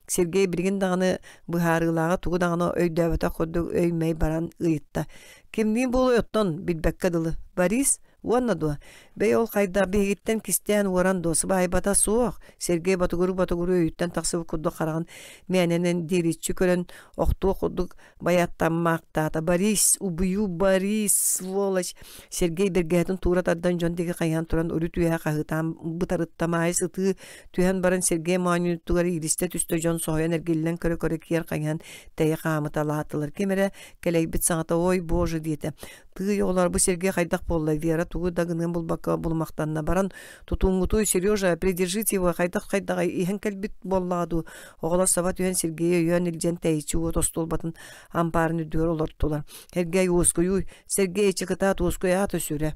Сергей билигин даҕаны быһаарыылааҕа тугу даҕаны өйдөөбөтөх курдук өй-мэй баран ыйытта. Кимниин буолуой оттон билбэккэ дылы. Борис уонна дуо? Бэй ол хайдах биһигиттэн кистээн уоран дуо сыбаайбата суох. Сергей ботугуру-ботугуру өйүттэн тахсыбыт курдук хараҕын мээнэнэн диэбиччи көрөн охтуох курдук байаттан маактаата борис убую борис сволочь сергей бэргэһэтин туура тардан дьон диги хайаан туран үрү түөһэ хаһыытаан бытарыттам аайыс ытыы түһэн баран сергей моонньуттугар иилистэ түстө дьон соһуйан эргиллэн көрө көрө киэр хайаан тэйэ хаамыта лаатылар кимэрэ кэлэйбит саҥата ой боже диэтэ тыый оҕолор бу сергей хайдах буолла вера тугу да гыныан булбакка булумахтанна баран тутуунгутуй сережа придержите его хайдах хайдаҕай иһэн кэлбит буоллаҕа дуу Оҕолосово түһэн Сергей өйөөн илдьэн тэйиччи уот остуолбатын ампаарын үрдүгэр олортулар. Сергей уоскуйуй, Сергей чыкытаат уоскуй аата сүрэ.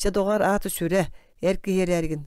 Чэ доҕор аата сүрэ, эр киһи эрээргин.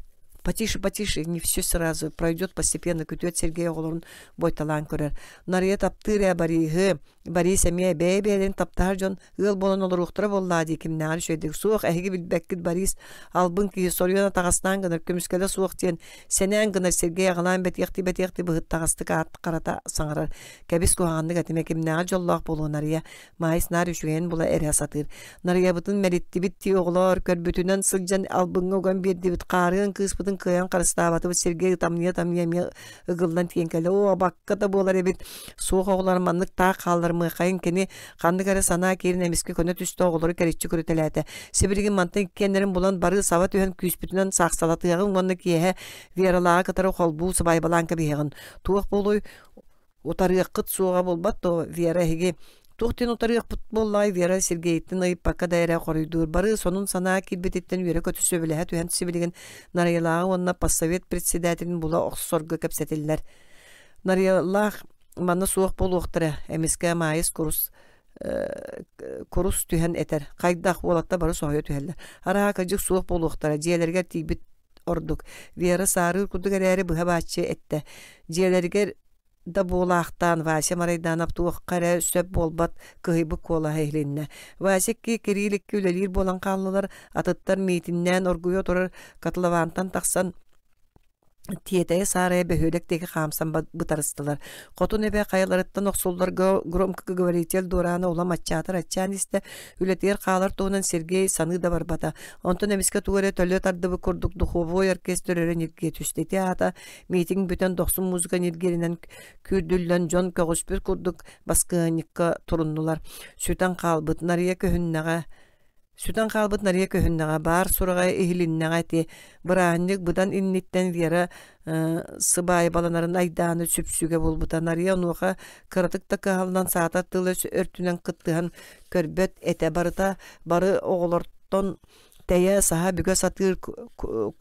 Потише, потише, не все сразу пройдет постепенно, күтүөт Сергей оҕолорун бойталаан көрөр. Нарыйа таптыыр ээ барыыһы, Борис эмиэ бэйэ-бэйэлэрин таптаһар дьон ыал буолан олоруохтара буоллаа дии кимнээҕэр үчүгэйдик. Суох, эһиги билбэккит Борис албын киһи соруйан атаҕастаан гынар көмүскэлэ суох диэн сэнээн гынар сиргэй аҕалаан бэтиэхтии-бэтиэхтии быһыттаҕастык аат харата саҥарар. Кэбис куһаҕаннык этимэ кимнээҕэр дьоллоох буолуо Нарыйа Маайыс наар үчүгэйин була эрэ сатыыр. Нарыйабытын мэриттибит дии оҕолоор көрбүтүнэн сылдьан албыҥҥа уган биэрдибит хаарыан кыыспытын кыайан харыстаабатыбыт сиргэй ытамньыйа-тамньыйа эмиэ ыгыллан тиийэн кэлэ оо бакка да буолар эбит суох оҕолор маннык таах хааллар мыахайын кини ханнык эрэ санаа киирин эмискэ көнө түсте оҕолору кэриччи көрүтэлээтэ сибилигин мантан иккиэннэрин булан бары саба түһэн күүспүтүнэн саахсалатыаҕын уонна киэһэ вералааҕы кытары холбуу сыбаайбалаан кэбиһиэҕин туох буолуой утарыаххыт суоҕа булбат дуо вера эһиги туохтан утарыахпыт буоллаай вера сергейтин ыйыппакка да эрэ хоруйдуур бары сонун санаа киирбититтэн үөрэ-көтө сөбүлэһэ түһэн сибилигин нарыйалааҕы уонна поссовет председателин була охсорго кэпсэтиллэр нарыйалаах манна суох буолуохтара эмискэ маайыс курус курус түһэн этэр хайдах уолатта бары соһуйа түһэллэр арааһа кырдьык суох буолуохтара дьиэлэригэр тиийбит ордук. Вера саарыыр курдук эрээри быһа бааччы эттэ. Дьиэлэригэр да буолаахтаан Вася Марайданов туохха эрэ сөп буолбат кыһыйбыт куолаһа иһилиннэ. Вася икки кирии икки үлэлиир буолан хааллылар, атыттар миитиннээн оргуйа турар котловантан тахсан тиэтэйэ-саарайа бөһүөлэк диэки хаамсан бытарыстылар. Хотун эбэ хайаларыттан охсулларга громкоговоритель дуораана улам аччаатар аччаан истэ, Үлэтигэр хаалар туһунан Сергей саныы да барбата. Онтон эмискэ тугу эрэ төлө тардыбыт курдук духовой оркестр өрө ньиргийэ түсте. Ити аата митинг бүтэн дохсун музыка ньиргиринэн күүрдүллэн дьон көҕүспүт курдук баскыанньыкка туруннулар. Сүтэн хаалбыт нарыйа көһүннэҕэ Сүтэн хаалбыт нарыйа көһүннэҕэ, баар сураҕай иһилиннэҕэ ити. Быраанньык быдан инниттэн Вера сыбаайбаланарын айдааны сүпсүгэ булбута. Нарыйа онуоха кыратык да кыһалынан саатар тыла өртүнэн кыттыһан көрбөт этэ барыта бары оҕолортон тэйэ саһа бүгэ сатыыр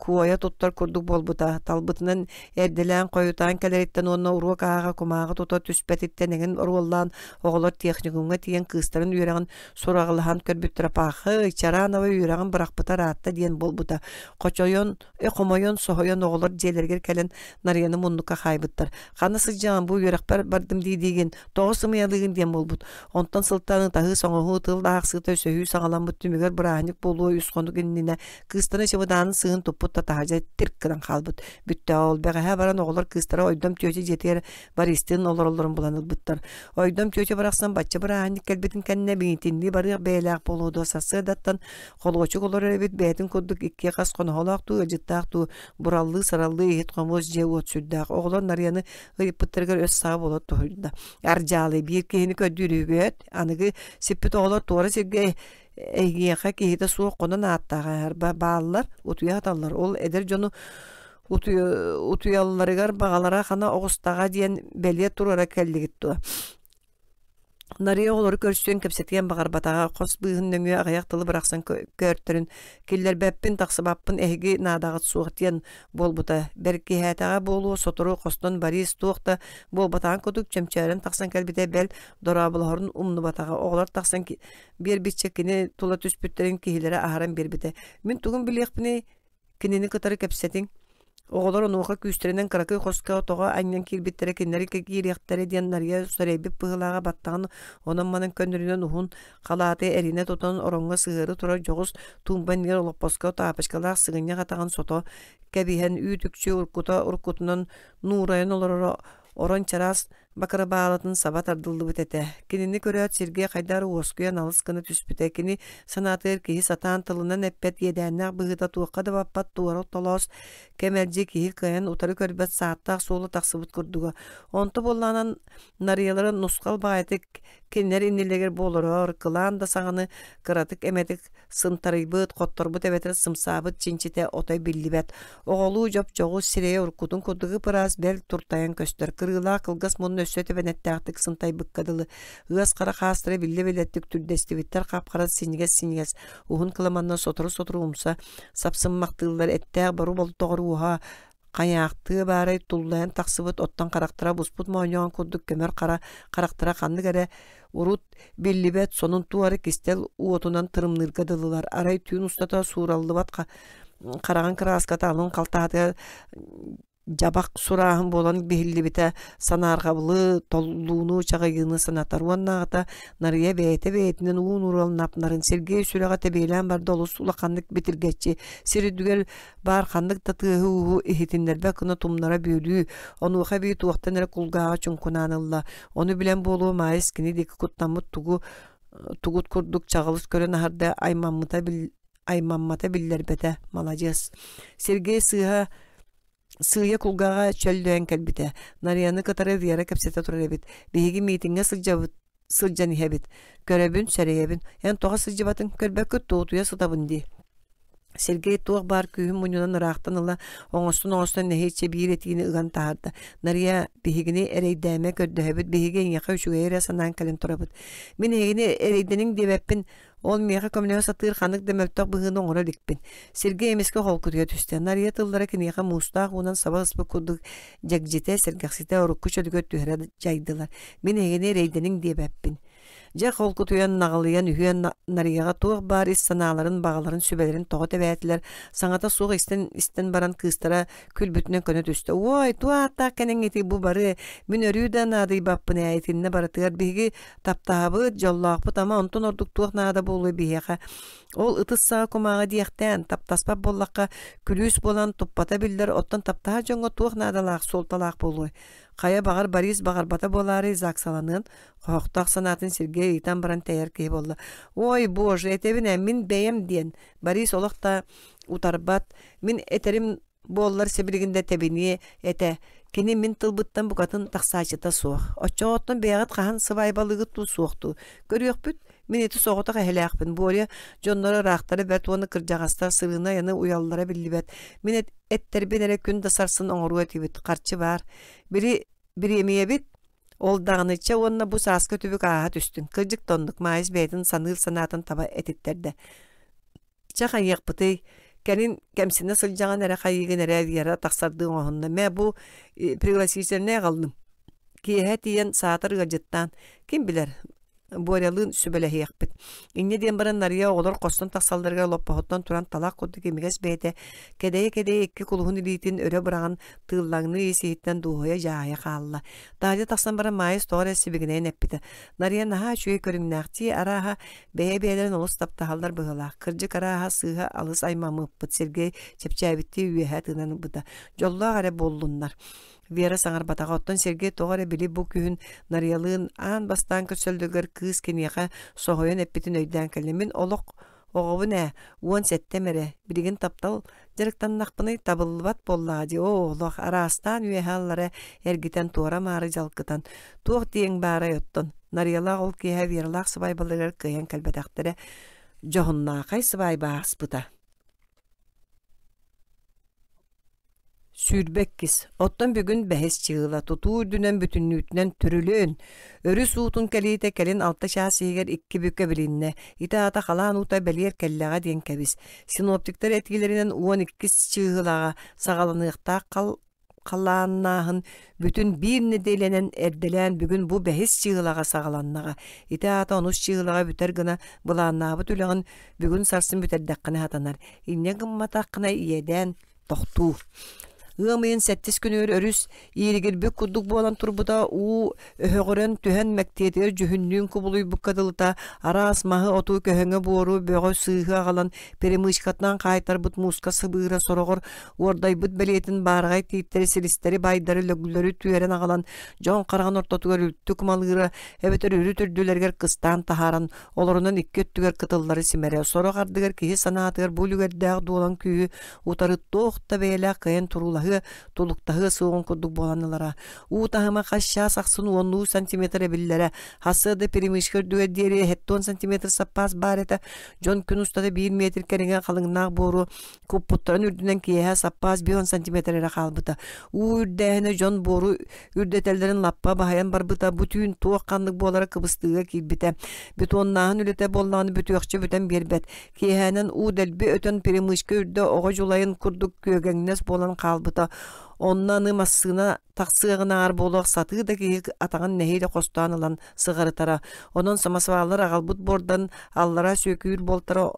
куойа туттар курдук буолбута талбытынан эрдэлээн хойутаан кэлэриттэн уонна уруок ааҕа кумааҕы тута түспэтиттэн эҥин оруоллаан оҕолор техникумҥа тиийэн кыыстарын үөрэҕин сураҕалаһан көрбүттэр паха Чаранова үөрэҕин бырахпыта ыраатта диэн буолбута хочойон хомойон, соһойон оҕолор дьиэлэригэр кэлэн Нарыйаны муннукка хаайбыттар. Ханна сылдьаҕын бу үөрэхпэр бардым дии-диигин, тоҕус сымыйалыыгын диэн буолбут. Онтон сылтааны таһыы-соҥоһуу, тыл аахсыыта өсөһүү саҕаламмыт түмүгэр бырааһынньык буолуо үс хонук иннинэ кыыстара чемодаанын сыыһын туппут татаһажа тирк гынан хаалбыт. Бүттэ ол бэҕэһээ баран оҕолор кыыстара Ойдом тиöчө дьиэтигэр Бористын олороллорун булан ылбыттар. Ойдом тиöчө барахсан бачча бырааһынньык кэлбитин кэннэ биитиннии барыах бэйэлээх болуодуо сарсыадаттан Холуочук олорор эбит бээтин курдук икки хас хоноһолоох дуу, ыдьыттаах дуу бураллыы-сараллыы иһит хомуос дьиэ уот сүрдээх. Оҕолор Нарыйаны ыйыппыттарыгар өс саҕа болот туһуйда. Арджалы биир киһини көрдүүрүбүөт, аныгы сиппит оҕолор туора сиргэ эйгиэхэ киһитэ суох хонон ааттаах эһэрбэ бааллар, утуйа хаталлар. Ол эдэр дьону утуйалларыгар баҕалара хана оҕустаҕа диэн бэлиэ туруора кэллигит туо. Нарыйа оҕолору көрсүөн, кэпсэтиэн баҕарбатаҕа, хос быыһын нөҥүө аҕыйах тылы бырахсан көөртөрүн киллэрбэппин, тахсыбаппын эһиги наадаҕыт суох диэн буолбута. Бэркиһээтэҕэ буолуо, сотору хостон Борис туох да буолбатаҕын курдук чөмчөөрөн тахсан кэлбитэ, бэл дорооболоһорун умнубатаҕа. Оҕолор тахсан биэрбиччэ кини тула түспүттэрин киһилэрэ аһаран биэрбитэ. Мин тугум билиэхпиний, Кинини кытары кэпсэтиҥ. Оҕолор онуоха күүстэринэн кыракый хоско отоҕо анньан киирбиттэрэ кинилэри киириэхтэрэ диэн нарыйа сэрэйбит быһыылааҕа баттаҕын онон-манан көннөрүнэн уһун халааты эринэ тутан ороҥҥо сыһыары турар дьоҕус туумба иннигэр олоппоско таапочкалаах сыгынньах атаҕын сото кэбиһэн үүт-үкчү уруккута уруккутунан нуурайан олороро Орон чараас бакырабаалатын саба тардыллыбыт этэ. Кинини көрөөт сиргэ хайдар уоскуйан алыс гына түспүтэ. Кини санаатыгар киһи сатаан тылынан эппэт иэдээннээх быһыыта туохха да баппат туора толоос кэмэлдьи киһи кыайан утары көрбөт сааттаах суола тахсыбыт курдуга. Онто буоллаанан нарыйалары нусхал баайытык кинилэр иннилэригэр буоларор кылаан да саҕаны кыратык эмэтик сынтарыйбыт хотторбут эбэтэр сымсаабыт чинчитэ отой биллибэт оҕолуу жопчоҕу сирэйэ уруккутун курдук ыпыраас бэл туртайан көстөр кырыылаах кылгас мунна өссө тэбэнэттээхтик сынтайбыкка дылы ыас хара хаастара биллэ билэттик түрдэстибиттэр хапхарат синньигэс синньигэс уһун кыламанна сотору-сотору умса сапсыммахтыыллар эттээх бору болтоҕор уоһа Хайаахтыы баарай туллайан тахсыбыт, оттон харахтара буспут моонньоҕон курдук көмөр хара харахтара ханнык эрэ урут биллибэт сонун туары кистэл уотунан тырымныырга дылылар. Арай түүн устата суураллыбат хараҕын кырааската алын халтаһата дьабах сурааһын буолан биһиллибитэ санаарҕабылы, толлууну, чаҕыйыыны санатар уоннааҕыта Нарыйа бэйэтэ бэйэтинэн уу нуураланнапнарын Сергей сүрэҕэ тэбиэлээн барда олус улаханнык битиргэччи сир үрдүгэр баар ханнык да тыаһыы-ууһу иһитиннэрбэт гына тумнара бүөлүү, онуоха эбии туохтан эрэ кулгааҕа чуҥкунаан ылла. Ону билэн буолуо Маайыс кини диэки куттаммыт тугу тугут курдук чаҕылыс көрөн аһарда аймаммыта бил аймаммата биллэрбэтэ маладьыас. Сергей сыыһа сыыйа кулгааҕа чөллөйөн кэлбитэ. Нарыйаны кытары Вера кэпсэтэ турар эбит. Биһиги миитиҥҥэ сылдьабыт сылдьан иһэбит көрөбүн сэрэйэбин эн тоҕо сылдьыбатын көрбөккүт туутуйа сытабын дии Сергей туох баар күүһүн мунньунан ыраахтан ыла оҥостон-оҥостон нэһииччэ биир этиини ыган таһаарда. Нарыйа, биһигини эрэйдээмэ көрдөһөбүт, биһиги эйиэхэ үчүгэйи эрэ санаан кэлэн турабыт. Мин эһигини эрэйдэниҥ диэбэппин, Ол миэхэ көмөлөһө сатыыр ханнык да мөлтөх быһыыны оҥоро иликпин. Сиргэ эмискэ холкутуйа түстэ. Нарыйа тыллара киниэхэ муустаах уунан саба ыспыт курдук дьэгдьитэ, сэргэхситэ урукку чөлүгэр түһэрэ дьайдылар. Мин эһигини эрэйдэниҥ диэбэппин. Дьэ холкутуйан, наҕылыйан үһүөн Нарыйаҕа туох баар ис санааларын, баҕаларын, сүбэлэрин тоҕо тэбээтилэр, саҥата суох истэн истэн баран кыыстара күлбүтүнэн көнө түстэ. Уой, туох ааттаах кэнэҥ ити бу бары мин өрүү да наадыйбаппын ээ итиннэ барытыгар биһиги таптаабыт, дьоллоохпут, ама онтун ордук туох наада буолуой биһиэхэ. Ол ытыс саҕа кумааҕы диэхтээн, таптаспат буоллахха, күлүүс буолан туппата биллэр, оттон таптаһар дьоҥҥо туох наадалаах, суолталаах буолуой? Хайа баҕар Борис баҕарбата буолаарый Заксаланыан, хоһохтоох санаатын сиргэ ыйытан баран тэйэр киһи буолла. «Ой, боже, этэбин ээ, мин бэйэм» диэн Борис олох да утарбат, мин этэрим Буоллар сибилигин да тэбиниэ этэ. Кини мин тылбыттан букатын тахсаачыта суох. Оччоҕоттон бэйэҕит хаһан сыбаайбалыгыт дуу, суох дуу? Көрүөхпүт, мин ити соҕотох эһэлээхпин. Боря дьонноро ыраахтара бэрт уонна кырдьаҕастар сырыынай-аны уйаллара биллибэт. Мин эт- эттэрбин эрэ күн да сарсын оҥоруо этибит, харчы баар. Били бириэмийэбит ол даҕанычча уонна бу сааска түбүк ааһа түстүн. Кырдьык да оннук, Маайыс бэйэтин саныыр санаатын таба этиттэрдэ. Чэ хайыахпытый, кэлин кэмсинэ сылдьаҕын эрэ хайыыгын эрэ Вера тахсардыы оҥоһунна. Мэ бу пригласительнай аҕаллым. Киэһэ тиийэн саатар ыалдьыттаан, ким билэр, Борялыын сүбэлэһиэхпит. Инньэ диэн баран Нарыйа оҕолор хостон тахсалларыгар олоппоһуттан туран талах курдук имигэс бэйэтэ кэдэйэ-кэдэйэ икки кулуһун илиитин өрө быраҕан тыыллаҥныы ис-иһиттэн дууһуйа-дьаһайа хаалла. Таадьа тахсан баран Маайыс тоҕо эрэ сибигинэйэн эппитэ. Нарыйа наһаа үчүгэй көрүҥнээхтии, арааһа, Бэйэ-бэйэлэрин олус таптаһаллар быһылаах. Кырдьык арааһа сыыһа алыс аймамыппыт Сергей чэпчээбиттии үөһэ тыынан ылбыта. Дьоллоох эрэ буоллуннар. Вера саҥарбатаҕа, оттон Сергей тоҕо эрэ били бу күһүн Нарыйалыын аан бастаан көрсөллүгэр кыыс киниэхэ соһуйан эппитин өйдөөн кэллэ. Мин олох оҕобун ээ, уон сэттэ эрэ, билигин таптал Дьарыктаннахпыный табыллыбат буоллаҕа дии, оо олох араастаан үөһэ-аллара эргитэн туора-маары дьалкытан туох диэҥ баарай оттон Нарыйалаах ол киэһэ Вералаах сыбаайбаларыгар кыайан кэлбэтэхтэрэ дьоһуннаахай сыбаайба ааспыта сүүрбэккис оттон бүгүн бэһис чыыла тутуу үрдүнэн бүтүннүүтүнэн түрүлүөн өрүс уутун кэлиитэ кэлин алта чаас иһигэр икки бүкэ билиннэ ити аата халаан уута бэлиэр кэллэҕэ диэн кэбис Синоптиктар этгилэринэн уон иккис чыыһылаҕа саҕаланыахтаах хал халааннааһын бүтүн биир нэдиэлэнэн эрдэлээн бүгүн бу бэһис чыыһылаҕа саҕаланнаҕа. Ити аата онус чыыһылаҕа бүтэр гына былааннаабыт үлэҕин бүгүн сарсын бүтэрдэххинэ хатанар. Инньэ гымматаххына иэдээн тохтуу. Ыам ыйын сэттис күнүгэр өрүс ииригирбик курдук буолан турбута уу өһөҕөрөн түһэн мэктиэтигэр дьүһүннүүн кубулуйбукка дылыта араас маһы оту көһөҥө буору бөҕө сыыһы аҕалан перемычкатынан хаайтарбыт мууска сыбыыра сороҕор уордайбыт бэлиэтин баараҕай тииттэри силистэри байдары лөглөрү түөрэн аҕалан дьон хараҕын ортотугар үлтү кумалыыра эбэтэр үрүт үрдүлэригэр кыстаан таһааран Олорунан икки өттүгэр кытыллары симэрэ сорох ардыгар киһи санаатыгар бу үлүгэрдээх дуолан күүһү утары туох да бэйэлээх кыайан туруулаһыа, тулуктаһыа суоҕун курдук буолан ылара. Уу таһыма хасчаас ахсын уоннуу сантиметр эбиллэрэ. Хасса да перемешка үрдүгэр диэри 70 сантиметр саппаас баар этэ. Дьон күн устата биир метр кэриҥэ халыҥнаах буору куппуттарын үрдүнэн киэһэ саппаас бион сантиметр эрэ хаалбыта уу үрдээһинэ дьон буору үрдэтэллэрин лаппа баһайан барбыта бу түүн туох ханнык буолара кыбыстыыга киирбитэ бетоннааһын үлэтэ буоллаҕына бүтүөхчэ бүтэн биэрбэт киэһэнэн уу дэлби өтөн перемычка үрдэ оҕо дьулайын курдук күөгэҥнэс буолан хаалбыта онно аны массыына тахсыаҕынааҕар буолуох сатыы да киһи атаҕын нэһиилэ хостоон ылан сыҕарытара онон самосваллар аҕалбыт буордан аллара сүөкүүр буолтара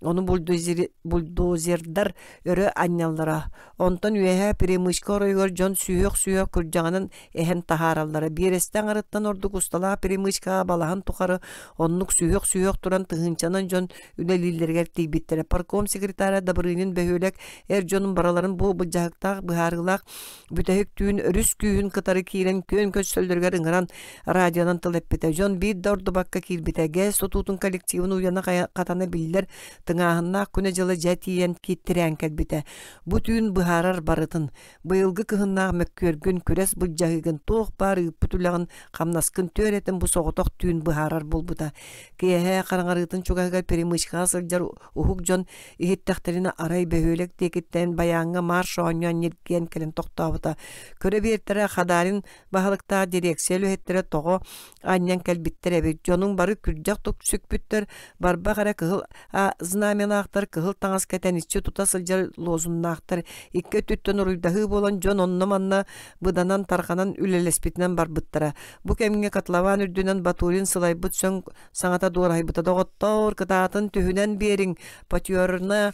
ону бульдозер бульдозердар өрө анньаллара онтон үөһээ перемычка оройугар дьон сүһүөх-сүһүөх күрдьэҕинэн эһэн таһаараллара биэрэстэ аҥарыттан ордук усталаах перемычкаҕа балаһан тухары оннук сүһүөх-сүһүөх туран тыһыынчанан дьон үлэлииллэригэр тиийбиттэрэ парком секретаря Добрынин бөһүөлэк эр дьонун барыларын бу былдьаһыктаах быһаарыылаах бүтэһиктүүн өрүс күүһүн кытары киирэн күөн көчсөллөрүгэр ыҥыран радионан тыл эппитэ дьон биир да ордубакка киирбитэ ГЭС тутуутун коллективын уйана хатана биллэр тыҥааһыннаах күнэ-дьыла дьэ тиийэн киттирээн кэлбитэ бу түүн быһаарар барытын быйылгы кыһыннаах мөккүөргүн күрэс былдьаһыыгын туох баар ыыппыт үлэҕин хамнаскын түөрэтин бу соҕотох түүн быһаарар буолбута киэһэ хараҥарыытын чугаһыгар перемычкаҕа сылдьар Уһук дьон иһиттэхтэринэ арай бөһүөлэк диэкиттэн баяҥҥа марш оонньоон ньиргиэн кэлэн тохтообута. Көрө биэртэрэ Хадаарин баһылыктаах дирекция үлэһиттэрэ тоҕо анньан кэлбиттэр эбит. Дьонуҥ бары күрдьэх тук сүкпүттэр, барбах эрэ кыһыл а знамянаахтар кыһыл таҥас кэтэн иччи тута сылдьар лозуннаахтар икки өттүттэн уруйдаһыы буолан дьон онно-манна быданан тарҕанан үлэлэспитинэн барбыттара. Бу кэмҥэ котлован үрдүнэн Батурин сылайбыт сөҥ саҥата дуораһайбыта доҕоттоор кытаатын түһүнэн биэриҥ патерна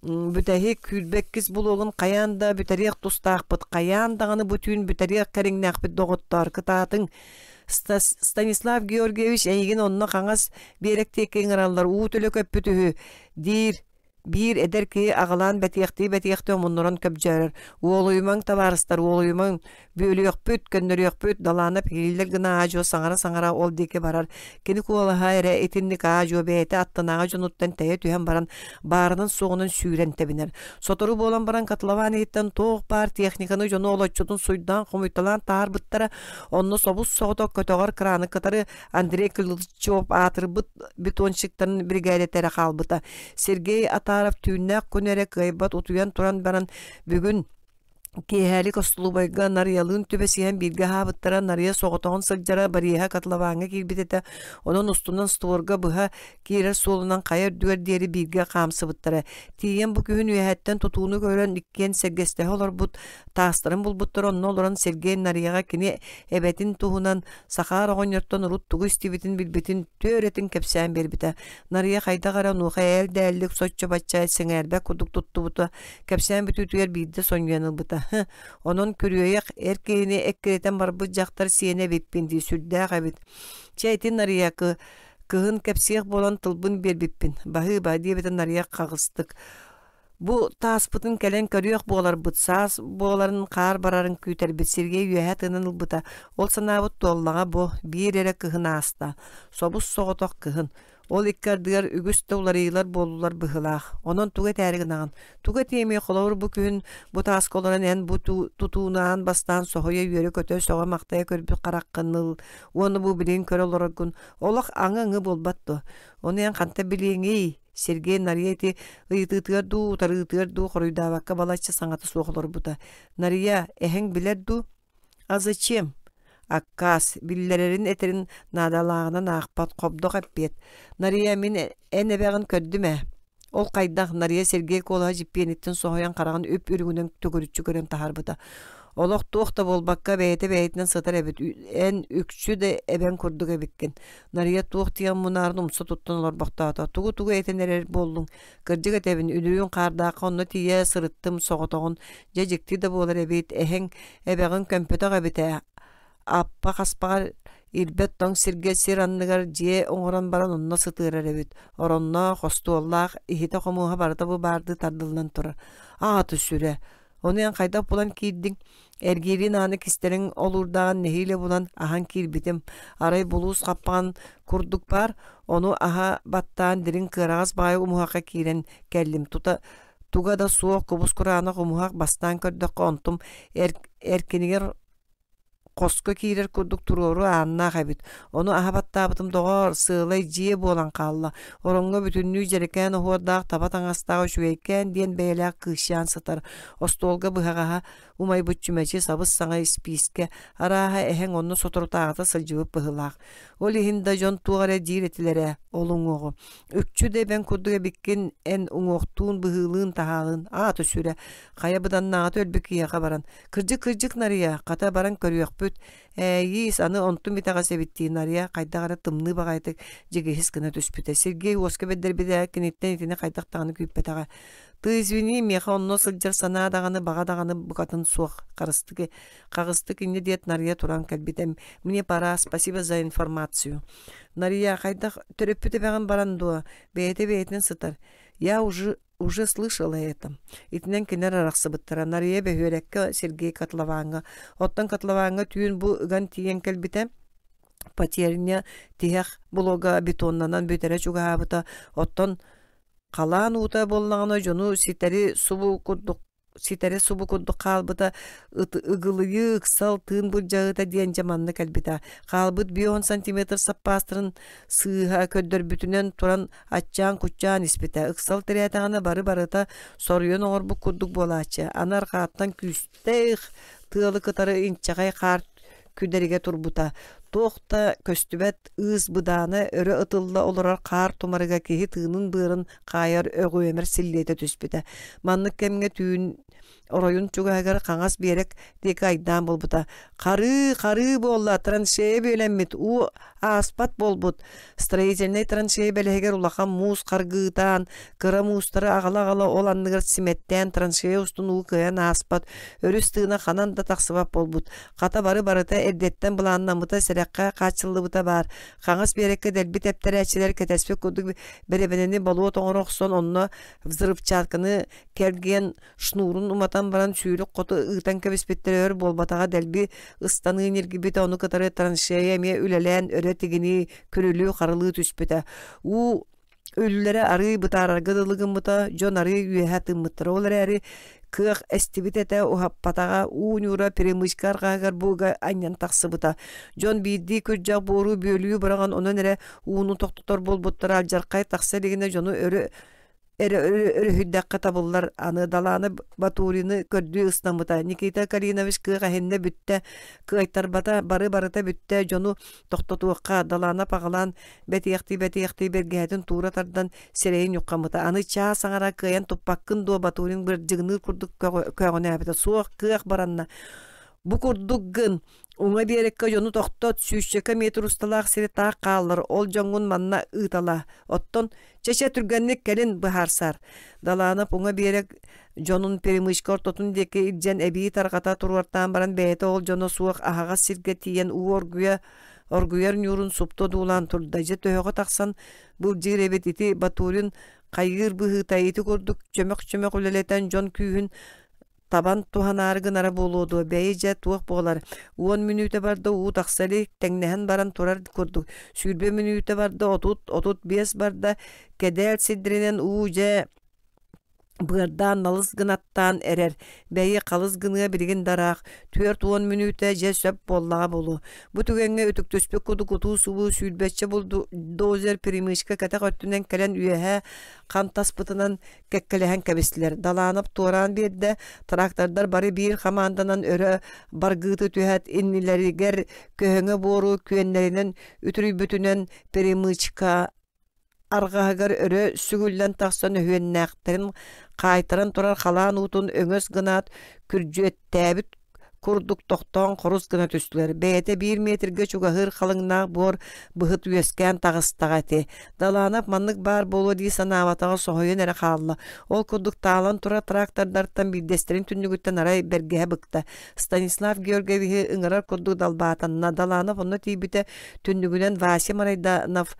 бүтэһик күүрбэккис булуогун хайаан да бүтэриэх тустаахпыт хайаан даҕаны бу түүн бүтэриэх кэриҥнээхпит доҕоттоор кытаатыҥ Станислав Георгиевич эйигин онно хаҥас биэрэк диэки ыҥыраллар уу төлө көппүт үһү диир Биир эдэр киһи аҕылаан бэтиэхтии-бэтиэхтии омуннуран көбдьөөрөр. Уолуйумаҥ, табаарыстар, уолуйумаҥ. Бүөлүөхпүт, көннөрүөхпүт, далаана пилииллэр гына аа-дьуо саҥара-саҥара ол диэки барар. Кини куолаһа эрэ итинник аа-дьуо бэйэтэ аттынааҕы дьонуттан тэйэ түһэн баран, баарынан-суоҕунан сүүрэн тэбинэр. Сотору буолан баран Катлаваан иһиттэн туох баар техниканы дьону олоччутун суйдаан-хомуйталаан таарбыттара, онно собус соҕотох көтөҕөр краны кытары Андрей Козловчев аатырбыт бетонщиктарын биригээдэтэрэ хаалбыта. Сергей Атаров түүннээх күн эрэ кыайбат утуйан туран баран бүгүн киэһээлик остолубайга нарыйалыын түбэсиһэн бииргэ аһаабыттара нарыйа соҕотоҕун сылдьара барыыһа котлованҥа киирбит этэ онон устунан створга быһа киирэр суолунан хайа үрдүгэр диэри бииргэ хаамсыбыттара. Тиийэн бу күһүн үөһэттэн тутууну көрөн иккиэн сэргэстэһэ олорбут таастарын булбуттара онно олорон Сергей Нарыйаҕа кини эбэтин туһунан Сахаар оҕонньортон урут тугу истибитин билбитин түөрэтин кэпсээн биэрбитэ. Нарыйа хайдах эрэ онуоха ээлдээллик соччо бачча сэҥээрбэх курдук туттубута кэпсээн бүтүүтүгэр биирдэ сонньуйан ылбыта. Онон күрүөйэх эр киһини эккирэтэн барбыт дьахтар сиэнэ эбиппин дии сүрдээх эбит. Чэ ити Нарыйаакы Кыһын кэпсиэх буолан тылбын биэрбиппин, «Баһыыба» диэбитин арыйах хаҕыстык. Бу тааспытын кэлэн көрүөх буоларбыт, саас буоларын хаар барарын күүтэрбит Сергей үөһэ тыынын ылбыта. Ол санаабыт туоллаҕа бу, биир эрэ кыһын ааста. Собус соҕотох кыһын. Ол икки ардыгар үгүс да уларыйыылар буоллулар быһыылаах. Онон тугу этээри гынаҕын? Тугу этиэмий холобур бу күн бу тааска олорон эн бу тутуунаан бастаан соһуйа үөрэ көтө сөҕө махтайа көрбүт хараххын ыл, Уону бу билигин көрө олороргун олох аңы-аңы буолбат дуо? Ону эн ханта билиэҥий? Сергей Нария ити ыйытыытыгар дуу, утарыытыгар дуу хоруйдаабакка балачча саҥата суох олорбута. Нария, эһэҥ билэр дуу? А зачем? Аккаас, биллэрэрин этэрин наадалааҕынан аахпат, хобдох эппиэт. Нария, мин эн эбэҕин көрдүм ээ. Ол хайдах Нарыйа Сергей Колаһа дьиппиэниттин соһуйан хараҕын үп-үрүҥүнэн төгүрүччү көрөн таһаарбыта. Олох туох да буолбакка бэйэтэ бэйэтинэн сытар эбит. Эн үкчү да эбэҥ курдук эбиккин. Нарыйа туох диэн мунаарын умса туттан олорбохтоото. Тугу-тугу этэн эрэр буоллуҥ? Кырдьык этэбин, үлүрүүн хаардаахха онно тиийэ сырыттым, соҕотоҕун. Дьэ дьикти да буолар эбит. Эһэҥ, эбэҕин көмпөтөх эбит ээ. Аппа хаспаҕар ирбэт тоҥ сиргэ сир анныгар дьиэ оҥорон баран онно сытыарар эбит. Оронноох, остуоллаах, иһитэ-хомуоһа барыта бу баардыы тардыллан турар. Ааты-сүрэ, ону эн хайдах булан киирдиҥ? Эргиэриин ааны кистэриҥ олуурдааҕын нэһиилэ булан аһан киирбитим. Арай булуус хаппаҕын курдук баар, ону аһа баттаан дириҥ кыараҕас баайы умуһахха киирэн кэллим. Тута туга да суох кубус кураанах умуһах бастаан көрдөххө онтум эр, эркинигэр хоско киирэр курдук туруору ааннаах эбит. Ону аһа баттаабытым, доҕоор, сыалай дьиэ буолан хаалла. Ороҥҥо бүтүннүү дьэрэкээн оһуордаах таба таҥастаах үчүгэйкээн диэн бэйэлээх кыысчаан сытар. Остуолга быһаҕаһа, умайбыт чүмэчи, сабыс-саҥа испиискэ, арааһа, эһэҥ онно соторутааҕыта сылдьыбыт быһыылаах. Ол иһин да дьон туох эрэ диир этилэрэ ол уҥуоҕу. Үкчү да эбэҥ курдук эбиккин, эн уҥуохтуун, быһыылыын-таһаалыын, аата сүрэ. Хая быданнааҕыта өлбү киһиэхэ баран, кырдьык-кырдьык нарыйа, хата баран көрүөхпүт, ээйиис, аны онтум итэҕэс эбиттии нарыйа хайдах эрэ тымныы баҕайытык дьигиһис гына түспүтэ. Сергей уоска бэдэрбитэ киниттэн итини хайдах даҕаны күүппэтэҕэ. Ты извини, миэхэ онно сылдьар санаа даҕаны, баҕа даҕаны букатын суох харыстык, хаҕыстык инньэ диэт нарыйа туран кэлбитэ. Мне пора, спасибо за информацию. Нарыйа хайдах төрөппүт эбэҕин баран дуо, бэйэтэ бэйэтин сытар. Я уже уже слышала это. Итинэн кинер арахсыбыттара. Нарыйа бөһүөрэккэ Сергей Котловаҥҥа. Оттон Котловаҥҥа түүн бу ыган тиийэн кэлбитэ потерня тиһэх блога бетоннанан бүтэрэ чугаһаабыта. Оттон халаан уута буоллаҕына дьону ситэри субу курдук ситэрэ субу курдук хаалбыта ыгылыйыы ыксал тыын былдьаһыыта диэн дьэ манна кэлбитэ хаалбыт би он сантиметр саппаастарын сыыһа көрдөрбүтүнэн туран аччаан куччаан испитэ ыксал тирээтэҕинэ бары барыта соруйан оҥорбут курдук буолааччы аны арҕааттан күүстээх тыалы кытары инчэҕэй хаар күдэригэ турбута. Туох да көстүбэт ыыс быдаана өрө ытылла олорор хаар тумарыга киһи тыынын-быарын хаайар өҕүөмэр силлиэтэ түспүтэ. Маннык кэмҥэ түүн оройун чугаһыгар хаҥас биэрек диэки айдаан буолбута. Харыы, харыы буолла, траншея бүөлэммит, уу ааспат буолбут. Строительнай траншея бэлэһигэр улахан муус харгыытаан, кыра муустары аҕала-аҕала ол анныгар симэттээн траншея устун уу кыайан ааспат, өрүс тыына ханан да тахсыбат буолбут. Хата бары барыта эрдэттэн былааннаммыта, сэрэххэ хааччыллыбыта баар. Хаҥас биэрэккэ дэлби тэптэрээччилэр кэтэспит курдук бэрэбэнэни болуот оҥоро охсон, онно взрывчатканы кэргиэн шнурун уматан баран сүүрүк хоту ыытан кэбиспиттэрэ өр буолбатаҕа дэлби ыстаныы ньиргибитэ ону кытары траншея эмиэ үлэлээн өрө тигинии, күрүлүү-харылыы түспүтэ. Уу Үллэрэ арыы бытаарарга дылы гыммыта, дьон арыы үөһэ тыммыттара ол эрээри, кыах эстибит этэ, уһаппатаҕа, уу ньуура перемычка арҕаһыгар бууга анньан тахсыбыта. Дьон биирдии күрдьэх буору бүөлүү быраҕан онон эрэ ууну тохтотор буолбуттара, алдьархай тахса илигинэ дьону өрө эрэ өрүһүйдэххэ табыллар. Аны Далаана Батурины көрдүү ыстаммыта. Никита Калинович кыах эһиннэ бүттэ, кыайтарбата, бары барыта бүттэ, дьону тохтотуохха далаана паҕалаан бэтиэхтии-бэтиэхтии бэргэһэтин туура тардан сирэйин ньуххаммыта аны чаас аҥара кыайан туппаккын дуо батурин бырдьыгыныы курдук көөҕүнээбитэ суох кыах баранна бу курдук гын уҥа биэриккэ дьону тохтот сүүсчэкэ метр усталаах сири таах хааллар ол дьоҥҥун манна ыытала оттон чэчэ түргэнник кэлин быһаарсар далаанап уҥа биэрик дьонун перемычка ортотун диэки илдьэн эбии тарҕата туруортаан баран бэйэтэ ол дьоно суох аһаҕас сиргэ тиийэн уу оргуйа оргуйар ньуурун супту одуулаан турда дьэ төһөҕө тахсан былдьыыр эбит ити батурин хайыыр быһыыта ити курдук чөмөх-чөмөх үлэлэтэн дьон күүһүн табан туһанаары гынара буолуо дуо бэйи дьэ туох буолар уон мүнүүтэ барда уу тахса илик тэҥнэһэн баран турар курдук сүүрбэ мүнүүтэ барда отут отут биэс барда кэдээл сирдэринэн уу дьэ Быардаан налыс гынаттаан эрэр, бэйи халыс гыныа билигин да ыраах, түөрт уон мүнүүтэ дьэ сөп буоллаҕа буолуо. Бу түгэҥҥэ үтүктүспүт куту кутуу-субуу сүүрбэччэ булду дозер перемычка кэтэх өттүнэн кэлэн үөһээ хантаспытынан кэккэлэһэн кэбистилэр. Далаанап туораан биэрдэ, трактордар бары биир хамаанданан өрө баргыыты түһээт иннилэригэр көһөҥө буору күөннэринэн үтүрүйбүтүнэн перемычка Арҕаһыгар өрө сүгүллэн тахсан өһүөннээхтэрин хаайтаран турар халаан уутун өҥөс гынаат, күрдьүөттээбит курдук тохтоон хорус гына түстүлэр. Бэйэтэ биир метргэ чугаһыыр халыҥнаах буор быһыт үөскээн таҕыстаҕа этэ. Далаанап маннык баар буолуо дии санаабатаҕа соһуйан эрэ хаалла. Ол курдук таалан турар трактордартан биирдэстэрин түннүгүттэн арай бэргэһэ быкта. Станислав Георгиевиһи ыҥырар курдук далбаатанна. Даланов онно тиийбитэ түннүгүнэн Вася Марайданов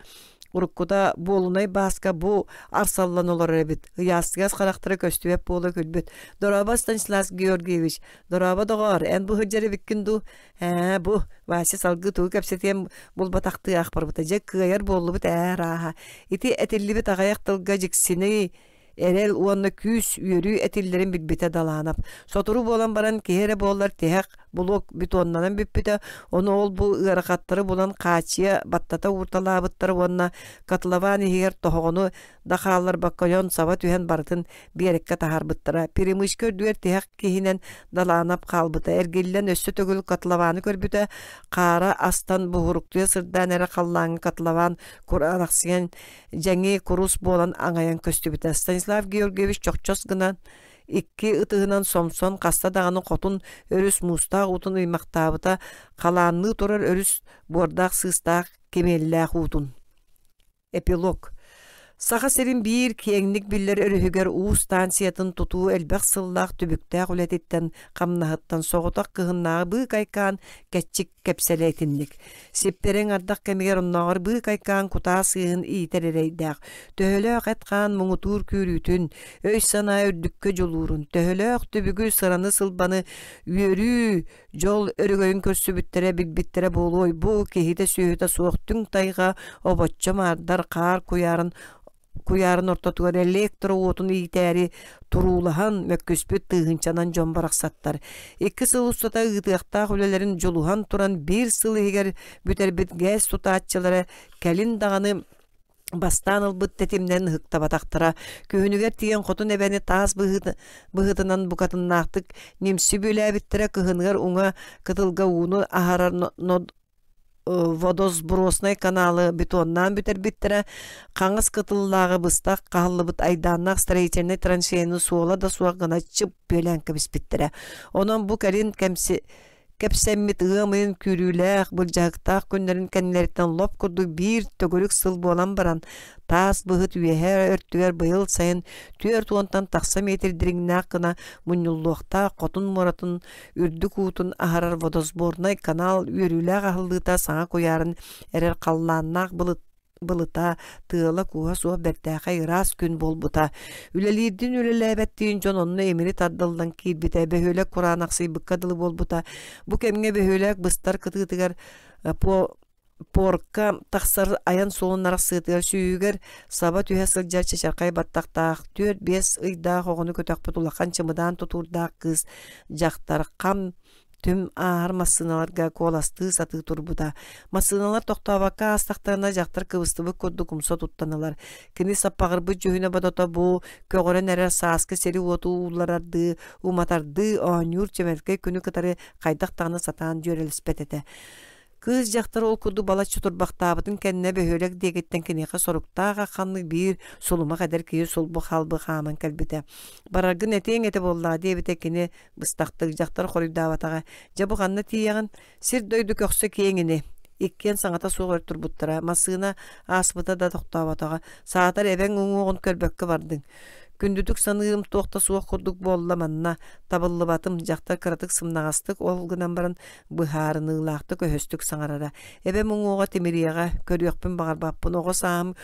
уруккута буолунай бааска бу арсаллан олорор эбит. Ыйаастыгас характары көстүбэт буола күлбүт. Дорооба Станислав Георгиевич, дорооба доҕоор, эн бу сылдьар эбиккин дуу? Ээ, бу Вася салгыы тугу кэпсэтиэн булбатахтыы аахпарбыта. Дьэ, кыайар буоллубут ээ рааха. Ити этиллибит аҕайах тылга дьиксиний эрэл уонна күүс үөрүү этиллэрин билбитэ Даланов. Сотору буолан баран киһи эрэ буоллар тиһэх блок бетоннанан бүппүтэ, ону ол бу ыарахаттары булан хааччыйа баттата уурталаабыттара уонна котлован иһигэр тоһоҕону да хаалларбакка ойон саба түһэн барытын биэриккэ таһарбыттара. Перемычка үрдүгэр тиһэх киһинэн Даланов хаалбыта. Эргиллэн өссө төгүл котлованы көрбүтэ, хаара астан буһуруктуя сырдаан эрэ халлааҥҥа котлован кураанахсыйан дьэҥи курус буолан аҥайан көстүбүтэ станислав георгиевич чохчос гынан икки ытыһынан сомсон хаста даҕаны хотун өрүс муустаах уутун ыймахтаабыта халаанныы турар өрүс буордаах сыыстаах кимиэллээх уутун эпилог саха сирин биир киэҥник биллэр өрүһүгэр уу станциятын тутуу элбэх сыллаах түбүктээх үлэтиттэн хамнаһыттан соҕотох кыһыннааҕы быыкайкаан кэччик кэпсэлэ итинник Сиптэрин ардах кэмигэр оннооҕор быык айкаан кутаа сыыһын иитэр эрэйдээх, төһөлөөх эт-хаан муҥутуур күүрүүтүн, өй-санаа үрдүккэ дьулуурун, төһөлөөх түбүгү, сыраны-сылбаны үөрүү дьол өрөгөйүн көрсүбүттэрэ, билбиттэрэ буолуой, бу киһитэ-сүөһүтэ суох түҥ тайҕа, обоччо маардар, хаар куйаарын куйаарын ортотугар электро уотун иитээри туруулаһан, мөккүспүт тыыһынчанан дьон барахсаттар икки сыл устата ыытыахтаах үлэлэрин дьулуһан туран биир сыл иһигэр бүтэрбит ГЭС тутааччылара кэлин даҕаны бастаан ылбыт тэтимнэрин ыһыктабатахтара. Күһүнүгэр тиийэн хотун эбэни таас быһыыт- быһыытынан букатыннаахтык нимси бүөлээбиттэрэ кыһыныгар уҥа кытылга ууну аһарар но- нод- водосброснай каналы бетоннаан бүтэрбиттэрэ хаҥас кытыллааҕы быстах хааллыбыт айдааннаах строительнай траншеяны суола да суох гына чып күөлээн кэбиспиттэрэ онон бу кэлин кэмси кэпсэммит ыам ыйын күүрүүлээх былдьаһыктаах күннэрин кэннилэриттэн лоп курдук биир төгүрүк сыл буолан баран таас быһыт үөһэ өртүгэр быйыл сайын түөрт уонтан тахса метр дириҥнээх гына мунньуллуохтаах хотун муратын үрдүк уутун аһарар водосборнай канал үөрүүлээх аһыллыыта саҥа куйаарын эрэр халлааннаах былыт былыта тыала-кууһа суох бэртээхэй ыраас күн буолбута. Үлэлиирдин үлэлээбэттиин дьон онно эмири тардыллан киирбитэ бөһүөлэк кураан ахсыйбыкка дылы буолбута. Бу кэмҥэ бөһүөлэк быстар кытыытыгар э, по Пуорка тахсар айан суолун арахсыытыгар сүүйүгэр саба түһэ сылдьар чачархай баттахтаах түөрт-биэс ыйдаах оҕону көтөхпүт улахан чымыдаан тутуурдаах кыыс дьахтар хам түм ааһар массыыналарга куоластыы сатыы турбута. Массыыналар тохтообокко аастахтарына дьахтар кыбыстыбыт курдук умса туттанылар. Кини саппаҕырбыт дьүһүнэ бодото бу көҕөрөн эрэр сааскы сири-уоту уулларардыы, уматардыы оонньуур чэмэлкэй күнү кытары хайдах даҕаны сатаан дьүөрэлэспэт этэ. Кыыс дьахтар ол курдук балачча турбахтаабытын кэннэ бөһүөлэк диэкиттэн киниэхэ соруктаах ахханнык биир сулумах эдэр киһи сулбу халбы хааман кэлбитэ. Бараргын этиэҥ этэ буоллаҕа диэбитэ кини быстахтык дьахтар хоруйдаабатаҕа. Дьэ бу ханна тиийэҕин? Сир-дойду көхсө киэҥ ини. Иккиэн саҥата суох өр турбуттара. Массыына ааспыта да тохтооботоҕо. Саатар эбэҥ уҥуоҕун көрбөккө бардыҥ. Күндүтүк саныырым туох да суох курдук буолла манна. Табыллыбатым, дьахтар кыратык сымнаҕастык ол гынан баран быһаарыныылаахтык өһөстүк саҥарара эбэм уҥуоҕа тимириэҕэ көрүөхпүн баҕарбаппын оҕо саам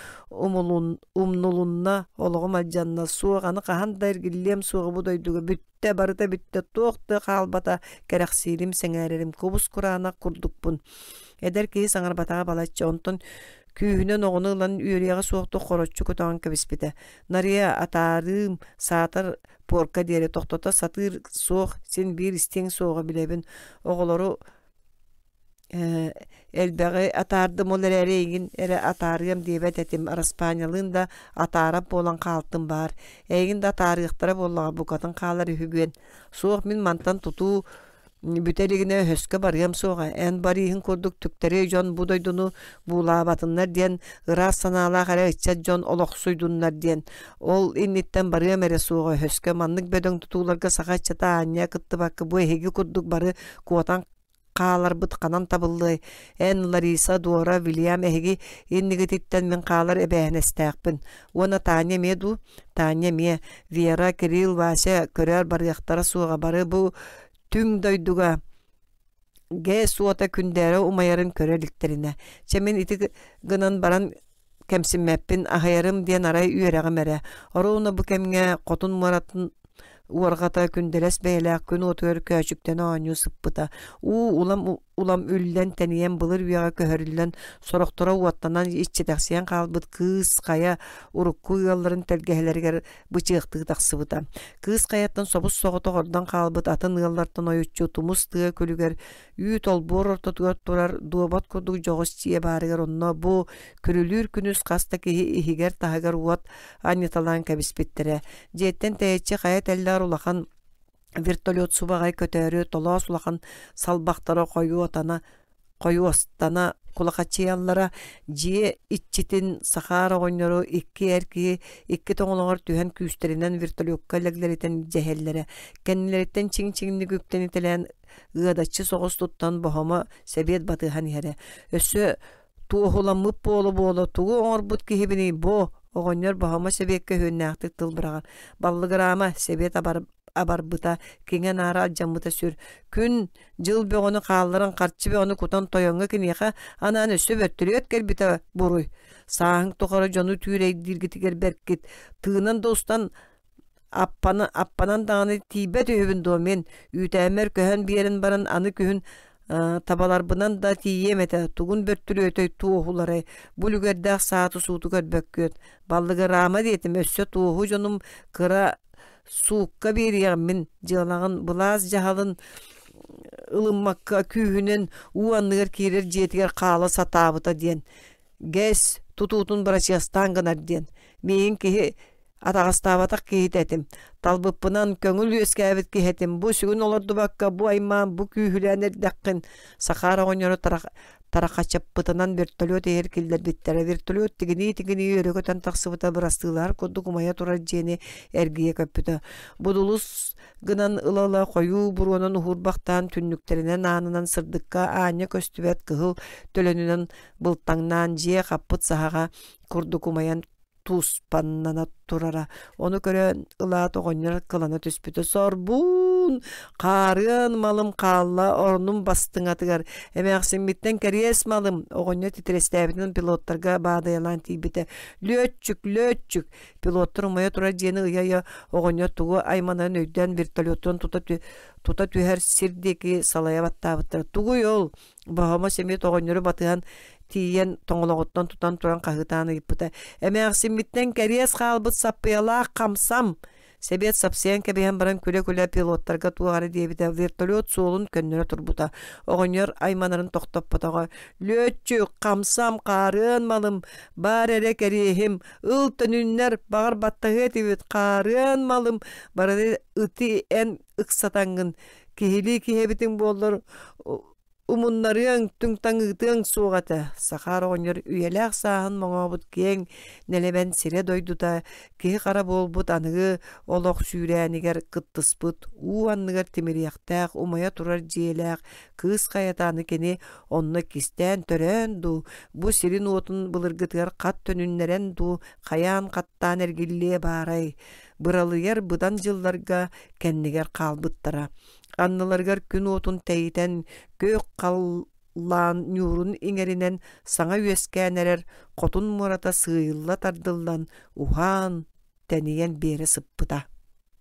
умулун умнулунна олоҕум адьанна суох аны хаһан да эргиллиэм суоҕа бу дойдуга бүттэ барыта бүттэ туох да хаалбата кэрэхсиирим сэҥээрэрим кубус кураанах курдукпун эдэр киһи саҥарбатаҕа балачча онтон күүһүнэн оҕону ылан үөрүйэҕэ суох да хороччу кутаҕын кэбиспитэ нарыйа атаарыым саатар Пуорка диэри тохтото сатыыр суох, син биир истиҥ суоҕа билэбин. Оҕолору э элбэҕи атаардым, ол эрээри эйигин эрэ атаарыам диэбэт этим. Араспаанньалыын да атаарар буолан хаалтым баар. Эйигин да атаарыахтара буоллаҕа, букатын хаалар үһү бүөн. Суох, мин мантан тутуу бүтэ илигинэ өһөскө барыам суоҕа эн барыыһын курдук түктэри дьон бу дойдуну буулаабатыннар диэн ыраас санаалаах эрэ ыччат дьон олохсуйдуннар диэн ол инниттэн барыам эрэ суоҕа өһөскө маннык бөдөҥ тутууларга саха ыччата аанньа кыттыбакка бу эһиги курдук бары куотан хааларбыт ханан табыллыай эн лариса дуора вильям эһиги иннигититтэн мин хаалар эбээһинэстээхпин уонна тааньа эмиэ дуу тааньа эмиэ вера кирилл вася көрөөр барыахтара суоҕа бары бу түҥ дойдуга ГЭС уота күндээри умайарын көрө иликтэринэ, чэ мин ити гынан баран кэмсиммэппин, аһайарым диэн арай үөрэҕим эрэ. Оруона бу кэмҥэ хотун муоратын уорҕата күндэлэс бэйэлээх күн уотугар көөчүктэн оонньуу сыппыта. Уу улам улам үллэн тэнийэн былыр үйэҕэ көһөрүллэн сорохторо уоттанан иччитэхсийэн хаалбыт кыыс хайа урукку ыалларын тэлгэһэлэригэр бычыахтыы тахсыбыта кыыс хайаттан собус соҕотох ордон хаалбыт атын ыаллартан ойуччу тумус тыа күлүгэр үүт олбуор ортотугар турар дуобат курдук дьоҕус дьиэ баарыгар онно бу күлүлүүр күнүс хас да киһи иһигэр таһыгар уот анньыталаан кэбиспиттэрэ дьиэттэн тэйиччи хайа тэллэҕэр улахан вертолет субаҕай көтөөрү толоос улахан салбахтара хойуотана хойуостана кулахачыйаллара дьиэ иччитин сахаар оҕонньору икки эр киһи икки тоҥолоҕор түһэн күүстэринэн вертолетка лэглэритэн дьэһэллэрэ кэннилэриттэн чиҥ-чиҥник үктэнитэлээн ыадаччы соҕус туттан боһомо сэбиэт батыһан иһэрэ өссө туоһуламмыт буола-буола тугу оҥорбут киһибиний бу оҕонньор Баһыма Сэбиэккэ үһүөннээхтик тылбыраҕар баллыгыраама Сэбиэт абарбыта киҥэ наара алдьаммыта сүр күн дьыл бөҕөнү хаалларан харчы бөҕөнү кутан тойоҥҥо киниэхэ анаан өссө бөртөлүөт кэлбитэ буруй сааһыҥ тухары дьону түүрэйдииргитигэр бэркит тыынан да устан Аппаны аппанан даҕаны тиийбэт үһүбүн дуо мин үүтээммэр көһөн биэрэн баран аны күһүн табаларбынан да тиийиэм этэ тугун бөттүрүөтэй туоһу уларай бу үлүгэрдээх сааты сууту көрбөккүөт баллыгыраама диэтим өссө туоһу дьонум кыра суукка биэриэҕим мин дьыалаҕын былаас дьаһалын ылыммакка күүһүнэн уу анныгар киирэр дьиэтигэр хаала сатаабыта диэн ГЭС тутуутун бырачыастаан гынар диэн миигин киһи Атаҕастаабатах киһитэ этим. Талбыппынан көҥүл үөскээбит киһи этим. Бу сүгүн олордубакка, бу аймаан, бу күүһүлээн эрдэххин Сахара оҕонньору тарахачаппытынан вертолет иһэр киллэрбиттэрэ. Вертолет тигинии-тигинии өрө көтөн тахсыбыта бырастыылаһар курдук умайа турар дьиэни эргийэ көппүтэ. Будулус гынан ыла-ыла хойуу буруонан уһуурбахтаан түннүктэринэн аанынан сырдыкка аанньа көстүбэт кыһыл төлөнүнэн былтаҥнаан дьиэ хаппыт саһаҕа курдук умайан туспаннана турара. Ону көрөн ылаат оҕонньор кылана түспүтэ. Сорбуун, хаарыан малым хаалла орнум бастыҥатыгар. Эмээхсиммиттэн кэриэс малым. Оҕонньор титирэстээбитин пилоттарга баадайалаан тиийбитэ. Лүөччүк, лүөччүк. Пилоттар умайа турар дьиэни ыйа-ыйа оҕонньор тугу айманарын өйдөөн вертолеттан тута, тута түһэр сир диэки салайа баттаабыттара. Тугуй ол? Баһама семья тоҕонньору батыһан тиийэн тоҥолоҕуттан тутан туран хаһытаан ыйыппыта. Эмээхсиммиттэн кэриэс хаалбыт саппыйалаах хамсам. Сэбиэт сапсыйан кэбиһэн баран күлэ-күлэ пилоттарга туох эрэ диэбитэ, вертолет суолун көннөрө турбута. Оҕонньор айманарын тохтоппотоҕо. «Лүөччү, хамсам, хаарыан малым, баар эрэ кэриэһим, ыл төнүннэр, баҕар баттаһыа этибит, хаарыан малым». Барыны ити эн ыксатаҥҥын киһилии киһэбитиҥ буоллар умуннарыаҥ түҥ таҥыытыаҥ суох этэ сахаар оҕонньор үйэлээх сааһын моҥообут киэҥ нэлэмэн сирэ-дойдута киһи-хара буолбут аныгы олох сүүрээнигэр кыттыспыт уу анныгар тимириэхтээх умайа турар дьиэлээх кыыс хайатааны кини онно кистээн төрөөн дуу бу сирин-уотун былыргытыгар хат төнүннэрэн дуу хайаан хаттаан эргиллиэ баарай быралыйар быдан дьылларга кэннигэр хаалбыттара. Анныларыгар күн уотун тэйитэн, күөх халлаан ньуурун иҥэринэн саҥа үөскээн эрэр хотун муората сыыйылла тардыллан, уһаан, тэнийэн биэрэ сыппыта.